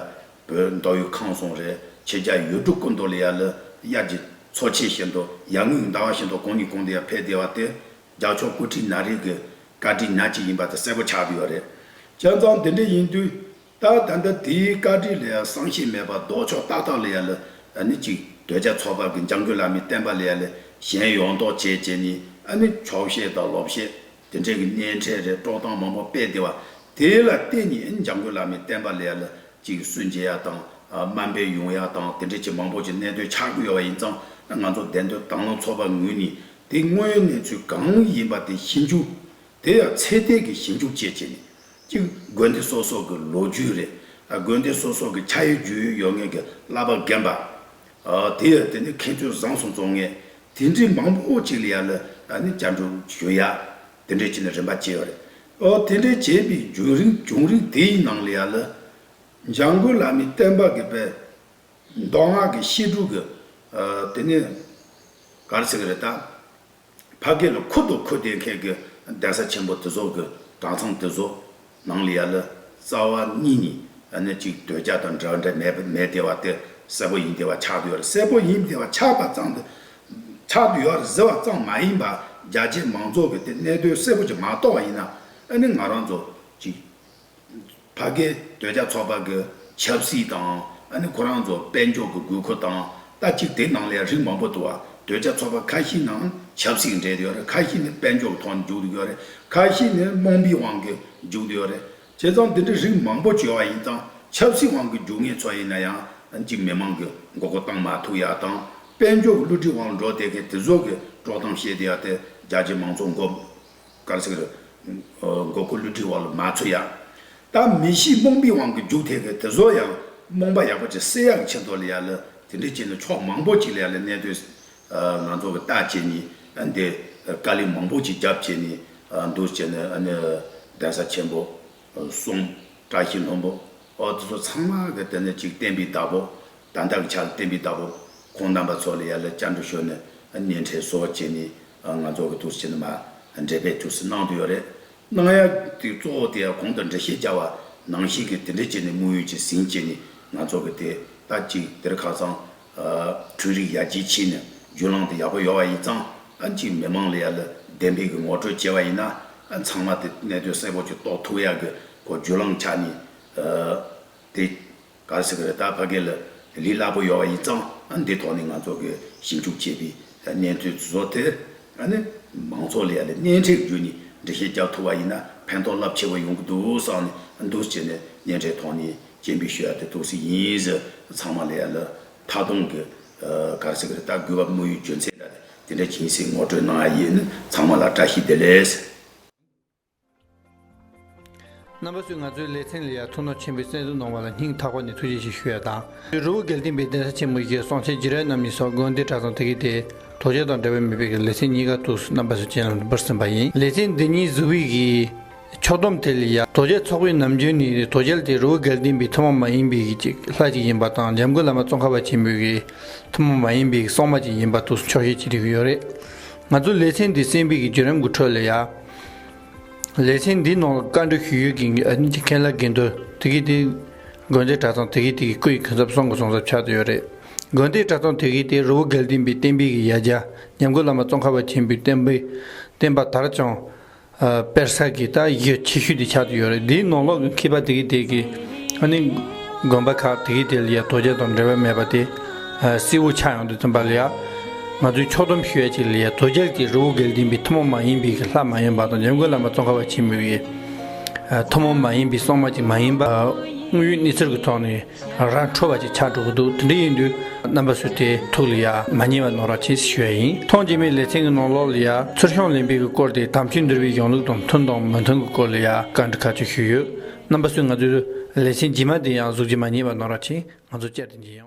བོད་མདོ་ཡུལ་ཁང་སོང་རེད་ཁྱེད་ཅག་ཡུལ་གྲུ་སྐུ་མདོག་ལ་ཡར་ལི་དབྱར་གྱི་མཚོ་ཆེ་བཞིན་དུ་ཡར་ངོས་ཀྱི་ཟླ་བ་བཞིན་དུ་གང་གིས་གང་དུ་ཡང་ཕེབས་བདེ་བ་དེ་རྒྱ་ཕྱོགས་སྐུ་ཁྲི་ན་རིག་གི་བཀའ་དྲིན་ཉག་གཅིག་ཡིན་པ་དེ་གསལ་པོ་ཆགས་བསྡད་ཡོད་རེད། བྱས་ཙང་དེ་འདྲ་ཡིན་དུས་ད་ད་ལྟ་དེའི་བཀའ་དྲིན་ལ་ཡང་བསམ་ཤེས་མེད་པར་ལྡོག་ཕྱོགས་ཏག་ཏག་ལ་ཡར་ལི་ཨ་ནི་གཅིག་བོད་རྒྱ་མཚོ་བར་གྱི་འཇང་དགུན་ལ་མའི་བསྟན་པ་ལ་ཡར་ལི་གཞན་ཡོངས་རྟོག་བྱེད་བྱེད་ནས་ཨ་ནི་ཆོག་ཤེས་དང་ལོབས་ཤེས་དེ་འབྲེལ་གྱི་གནས་འཕྲལ་རེ་དཀྲོག་སྟངས་མང་པོ་སྤེལ་བདེ་བ། དེ་ལ་བརྟེན་ནས་འཇང་དགུན་ལགས་ནས་བསྟན་པ་ལས་ལ་གཅིག་སུན་འབྱིན་ཡག་དང་སྨན་སྤེལ་ཡོང་ཡག་དང་དེ་འབྲེལ་གྱི་མང་པོ་ཅིག་གནད་དོན་ཆགས་ཀྱི་ཡོད་པ་ཡིན་ཙང་ང་ཚོ་བདེན་དོན་དྭང་བླངས་ཚོགས་པ་ངོས་ནས་དེ་སྔོན་གནས་ཚུལ་གང་ཡིན་པ་དེ་ཞིབ་འཇུག་དེ་ཡང་ཚད་ལྡན་གྱི་ཞིབ་འཇུག་བཅས་བྱས་ནས། གཅིག་དགོན་སྡེ་སོ་སོ་གྱི་ལོ་རྒྱུས་རེད། དགོན་སྡེ་སོ་སོ་གྱི་ཆ་ཡོད་རྒྱུས་ཡོད་ཡོད་ངེས་ཀྱི་བསླབ་པ་རྒན་པ། དེ་ཡང་དེ་ནི་ཁེ་ཆུང་བཟང་སོང་བཙོང་ངས་དེ་འདྲའི་མང་པོ་ཅིག་ལ་ཡར་ལ་ནི་བསྐྱར་འགྲོ་ཞུ་ཡ། དེ་འདྲའི་བྱས་ནས་རིན་པ་བྱས་ཡོད་རེད། དེ་འདྲའི་བྱས་པའི་བྱུང་རིང་བྱུང་རིང་དེའི་ནང་ལ་ཡར་ལ། འཇང་དགོན་བླ་མའི་བསྟན་པ་གི་པའི། མདོ་སྔགས་ཀྱི་བཤད་སྒྲུབ་ཀྱི། དེ་ནི། ག་རེ་ཟེར་གི་རེད་ད། ཕ་སྐད་ལ་ཁུར་དུ་ཁུར་ཏེ་མཁས་ཀྱི་གདན་ས་ཆེན་པོ་དེ་ཚོགས་ཀྱི་གྲྭ་ཚང་དེ་ཚོ་ནང་ལ་ཡ་ལ་རྩ་བ་གཉིས་ནི་ཨ་ནི་གཅིག་དོལ་རྒྱ་དང་འདྲ་འདྲ་མེད་པ་མེད་དེ་བ་དེ་གསལ་པོ་ཡིན་དེ་བ་ཆགས་དུ་ཡོད་གསལ་པོ་ཡིན་དེ་བ་ཆགས་པ་ཙང་དེ་ཆགས་དུ་ཡོད་ཟེར་བ་ཙང་མ་ཡིན་པ་རྒྱ་ཆེ་མང་ཚོགས་ཀྱི་དེ་གནད་དོན་གསལ་པོ་ཅིག་མ་རྟོགས་བ་ཡིན་ན་ཨ་ནི་ང་རང་ཚོ་གཅིག་བ་དགེ་འདུན་རྒྱ་མཚོ་པ་གི་ཆབ་སྲིད་དང་ཨ་ནི་ཁོ་རང་ཚོ་དཔལ་འབྱོར་གི་དགོས་མཁོ་དང་ལྟ་ཅིག་དེ་ནང་ལས་རིགས་མང་པོ་འདུག་བ་དུད་རྒྱ་མཚོ་པ་ཁ་ཤི་ནང་ཆབ་སྲིད་འདྲེས་ཡོད་རེད་ཁ་ཤི་ནི་དཔལ་འབྱོར་གི་ཐོག་ནས་འཇུག་ཏུ་ཡོད་རེད་ཁ་ཤི་ནི་རྨོངས་པའི་དབང་གིས་འཇུག་ཏུ་ཡོད་རེད་བྱས་ཙང་དེ་འདྲའི་རིགས་མང་པོ་བྱོས་བ་ཡིན་ཙང་ཆབ་སྲིད་དབང་གིས་འཇུག་ངེས་ཚོ་ཡིན་ན་ཡང་ཨ་ཅིག་མི་མང་གི་མགོ་སྐོར་བཏང་མ་ཐུབ་ཡག་དང་དཔལ་འབྱོར་གི་བསླུ་བྲིད་དབང་ལ་འགྲོ་བསྡད་མཁན་དེ་ཚོ་གི་དཀྲོག་གཏམ་བཤད་དུ་ཡག་དེ་རྒྱ་ཆེ་མང་ཚོགས་མགོ་གར་སིག་རི། མགོ་སྐོར་ལུས་དྲི་བ་ལ་མ་ཚོས་ཡག། ད་མི་གཞིའི་རྨོངས་པའི་དབང་གིས་རྒྱུག་ཐེབས་པའི་དེ་ཟོ་ཡང་རྨོངས་པ་ཡག་པོ་བྱེད་སེ་ཡག་ཆེ་མདོ་ལ་ཡག་ལ་དེ་འདྲའི་བྱས་ནས་ཕྱོགས་མང་པོ་གཅིག་ལ་ཡག་ལ་གནས་སྡོད་ང་ཚོ་གི་ལྟ་བྱེད་ནི་འདི་དཀའ་ལས་མང་པོ་གཅིག་རྒྱབ་བྱས་ནས་འདུག་བྱས་ནས་གདན་ས་ཆེན་པོ་གསུང། བཀྲ་ཤིས་ལྷུན་པོ། འོ་དེ་ཚོ་ཚང་མ་གི་དེ་ནི་ཅིག་བསྟན་པའི་བདག་པོ། ད་ལྟར་འཆར་བསྟན་པའི་བདག་པོ། ཁོང་རྣམ་པ་ཚོ་ལ་ཡར་ལ་བསྐྱར་འགྲོ་ཞོར་ནས་གཉེན་འཕྲད་གསོལ་བ་བྱས་ནས་ང་ཚོ་གི་དུར་བྱིད་ནི་མ་འདྲེས་པས་དུར་བྱིད་གནང་དུ་ཡོད་རེད། གནང་ཡ་དེ་གཙོ་བོ་དེ་གོང་དུ་འགྲེལ་བཤད་བྱ་བ་ནང་བཞིན་གྱི་དེ་འདྲས་བྱས་ནས་དམུ་ཡུལ་གྱི་ཟིན་བཅད་ནས་ང་ཚོ་གི་དེ་ལྟ་ཅིག་དེར་ཁ་ཚང་འཕྲུལ་རིགས་ཡར་རྒྱས་ཕྱིན་ནས་རྒྱུ་ལང་དེ་ཡག་པོ་ཡོང་བ་ཡིན་ཙང་གཅིག་མི་མང་ལ་ཡར་ལ་བདེན་པའི་གི་ངོ་སྤྲོད་བྱས་བ་ཡིན་ན་ཚང་མ་དེ་གནད་དོན་གསལ་པོ་གཅིག་རྟོགས་ཐུག་ཡག་གི་གོ་རྒྱུ་ལང་ཆ་ནས་དེ་ག་རེ་ཟེར་གི་རེད་ད་ཕ་གི་ལ་ལས་སླ་པོ་ཡོང་བ་ཡིན་ཙང་འདི་ཐོག་ནས་ང་ཚོ་གི་ཞིབ་འཇུག་བྱས་པའི་གནས་ཚུལ་བཟོ་དེ་ནི་མང་ཚོགས་ལ་ཡར་ལ་སྣེ་འཁྲིད་རྒྱུ་ནས་འགྲེལ་བཤད་རྒྱག་ཐུག་བ་ཡིན་ན་ཕན་ཐོག་རླབས་ཆེ་བོ་ཡོང་གི་འདུག་བསམ་ནས་འདུག་ཅེས་ནས་སྙན་གྲའི་ཐོག་ནས་སྐྱེན་པའི་ཤོད་ཡ་དེ་ཏོག་སི་ཡིན་ཟེར་ཚང་མ་ལས་ཡ་ལ་མཐའ་སྟོང་གི་གར་སེ་གི་རི་དྭགས་རྒུད་བབ་དངོས་ཡོད་རྒྱུ་མཚན་དག་དེ་འདྲ་གྱིན་སེ་ངོ་སྤྲོད་གནང་ཡ་ཡིན་ནི་ཚང་མ་ལ་བཀྲ་ཤིས་བདེ་ལེགས། རྣམ་པ་ཚོས་ང་ཚོའི་ལེ་ཚན་ལ་ཡ་ཐུགས་སྣང་ཆེན་པོས་གསན་བསུ་གནང་བ་ལ་སྙིང་ཐག་པ་ནས་ཐུགས་རྗེ་ཆེ་ཞུ་ཡ་དང། རི་བོ་དགེ་ལྡན་པའི་གདན་ས་ཆེན་མོ་ཞིག་སོང་ཆེ་ཇི་རལ་རྣམ་གཉིས་སོགས་དགོན་སྡེ་གྲྭ་ཚང་དེ་གའི་དེ་དོ་ཅལ་དང་འདྲ་བའི་མི་དཔེ་གི་ལེ་ཚན་གཉིས་ཀ་ཐུགས་སུ་རྣམ་པ་སུ་ཅན་ལ་འབུར་ཟིན་པ་ཡིན། ལེ་ཚན་འདི་གཉིས་གཟུ་བྷིག་གིས་ཕྱོགས་སྡོམ་དེ་ལས་ཡར་རྡོ་རྗེ་ཚོགས་པའི་ནམ་རྒྱུན་ནི་རྡོ་རྗེ་དེ་རུ་སྒེར་བསྟན་པའི་ཐུན་མོང་མ་ཡིན་པའི་ལྷ་གཅིག་ཡིན་པ་དང་འཇམ་མགོན་བླ་མ་ཙོང་ཁ་པ་ཆེན་པོའི་གི་ཐུན་མོང་མ་ཡིན་པའི་གི་སོག་མ་གཅིག་ཡིན་པ་དུ་འཕྱོགས་བཤད་བྱེད་རིགས་ཡོད་རེད། ང་ཚོ་ལེ་ཚན་འདི་གསན་པའི་གི་བརྒྱུད་རིམ་གི་ཁྲོད་ལ་ཡར། ལེ་ཚན་འདིའི་ནང་ལ་བཀའ་འགྲོས་ཞུ་ཡུལ་གི་མཁན་ལ་དགེ་འདུན་དེ་གའི་དེ་དགོན་སྡེ་གྲྭ་ཚང་དེ་གའི་དེ་གའི་སྐུ་ཡི་གུན་གསབ་སོང་གི་སོང་ཟབ་ཆགས་དུ་ཡོད་རེད། དགོན་སྡེ་གྲྭ་ཚང་དེ་གའི་དེ་རུ་སྒེར་བསྟན་པའི་བསྟན་པའི་གི་ཡ་བརྒྱ་འཇམ་མགོན་བླ་མ་ཙོང་ཁ་པ་ཆེན་པོའི་བསྟན་པའི་བསྟན་པ་དར་ཅང་དཔེར་ས་གི་ད་ཡོད་ཆེ་ཤོས་དེ་ཆགས་ཏུ་ཡོད་རེད་དེའི་ནང་ལོག་གི་མཁས་པ་དེ་གི་དེ་གི་ཨ་ནི་དགོན་པ་ཁག་དེ་གི་དེ་ལ་ཡ་དོ་རྗེ་དང་འབྲེལ་བ་མེད་པ་དེ་སྲི་བོ་ཆགས་ཡོང་དུ་ཙམ་པ་ལ་ཡ་ང་ཚོའི་ཕྱོགས་སྡོམ་ཞུ་ཡ་ཅིག་ལ་ཡ་དོ་རྗེ་ལ་དེ་རི་བོ་གལ་ཏིན་པའི་ཐུན་མོང་མ་ཡིན་པའི་གི་ལྷ་མ་ཡིན་པ་དང་འཇམ་མགོན་བླ་མ་ཙོང་ཁ་བ་ཆེན་མོའི་གི་ཐུན་མོང་མ་ཡིན་པའི་སྲོག་མ་ཅིག་མ་ཡིན་པ་དངོས་ཡོད་གནས་ཚུལ་གི་ཐོག་ནས། རང་རང་འཕྲོ་བ་ཅིག་ཆགས་འགྲོ་གི་འདུག་དེ་འདྲ་ཡིན་དུས་རྣམ་པ་སུ་དེའི་ཐུགས་ལ་ཡ་མ་ཉེས་པ་ནོར་བ་ཅི་ཞུ་ཡ་ཡིན་མཐོང་རྗེས་མའི་ལེ་ཚན་གྱི་ནང་ལོགས་ལ་ཡ་ཚུར་གཤོང་གླེང་འཕེལ་གྱི་སྐོར་དེ་དམ་ཆོས་འདུལ་བའི་གཞུང་ལུགས་དང་མཐུན་དང་མི་མཐུན་གྱི་སྐོར་ལ་ཡ་བཀའ་འདྲི་ཁ་ཆོད་ཞུས་ཡོད་རྣམ་པ་སུས་ང་ཚོའི་ལེ་ཚན་རྗེས་མ་དེ་ཡང་གཟུགས་ཀྱི་མ་ཉེས་པ་ནོར་བ་ཆེ་ང་ཚོ་བཅར་ཏེ་འབྱིན་ཡོང།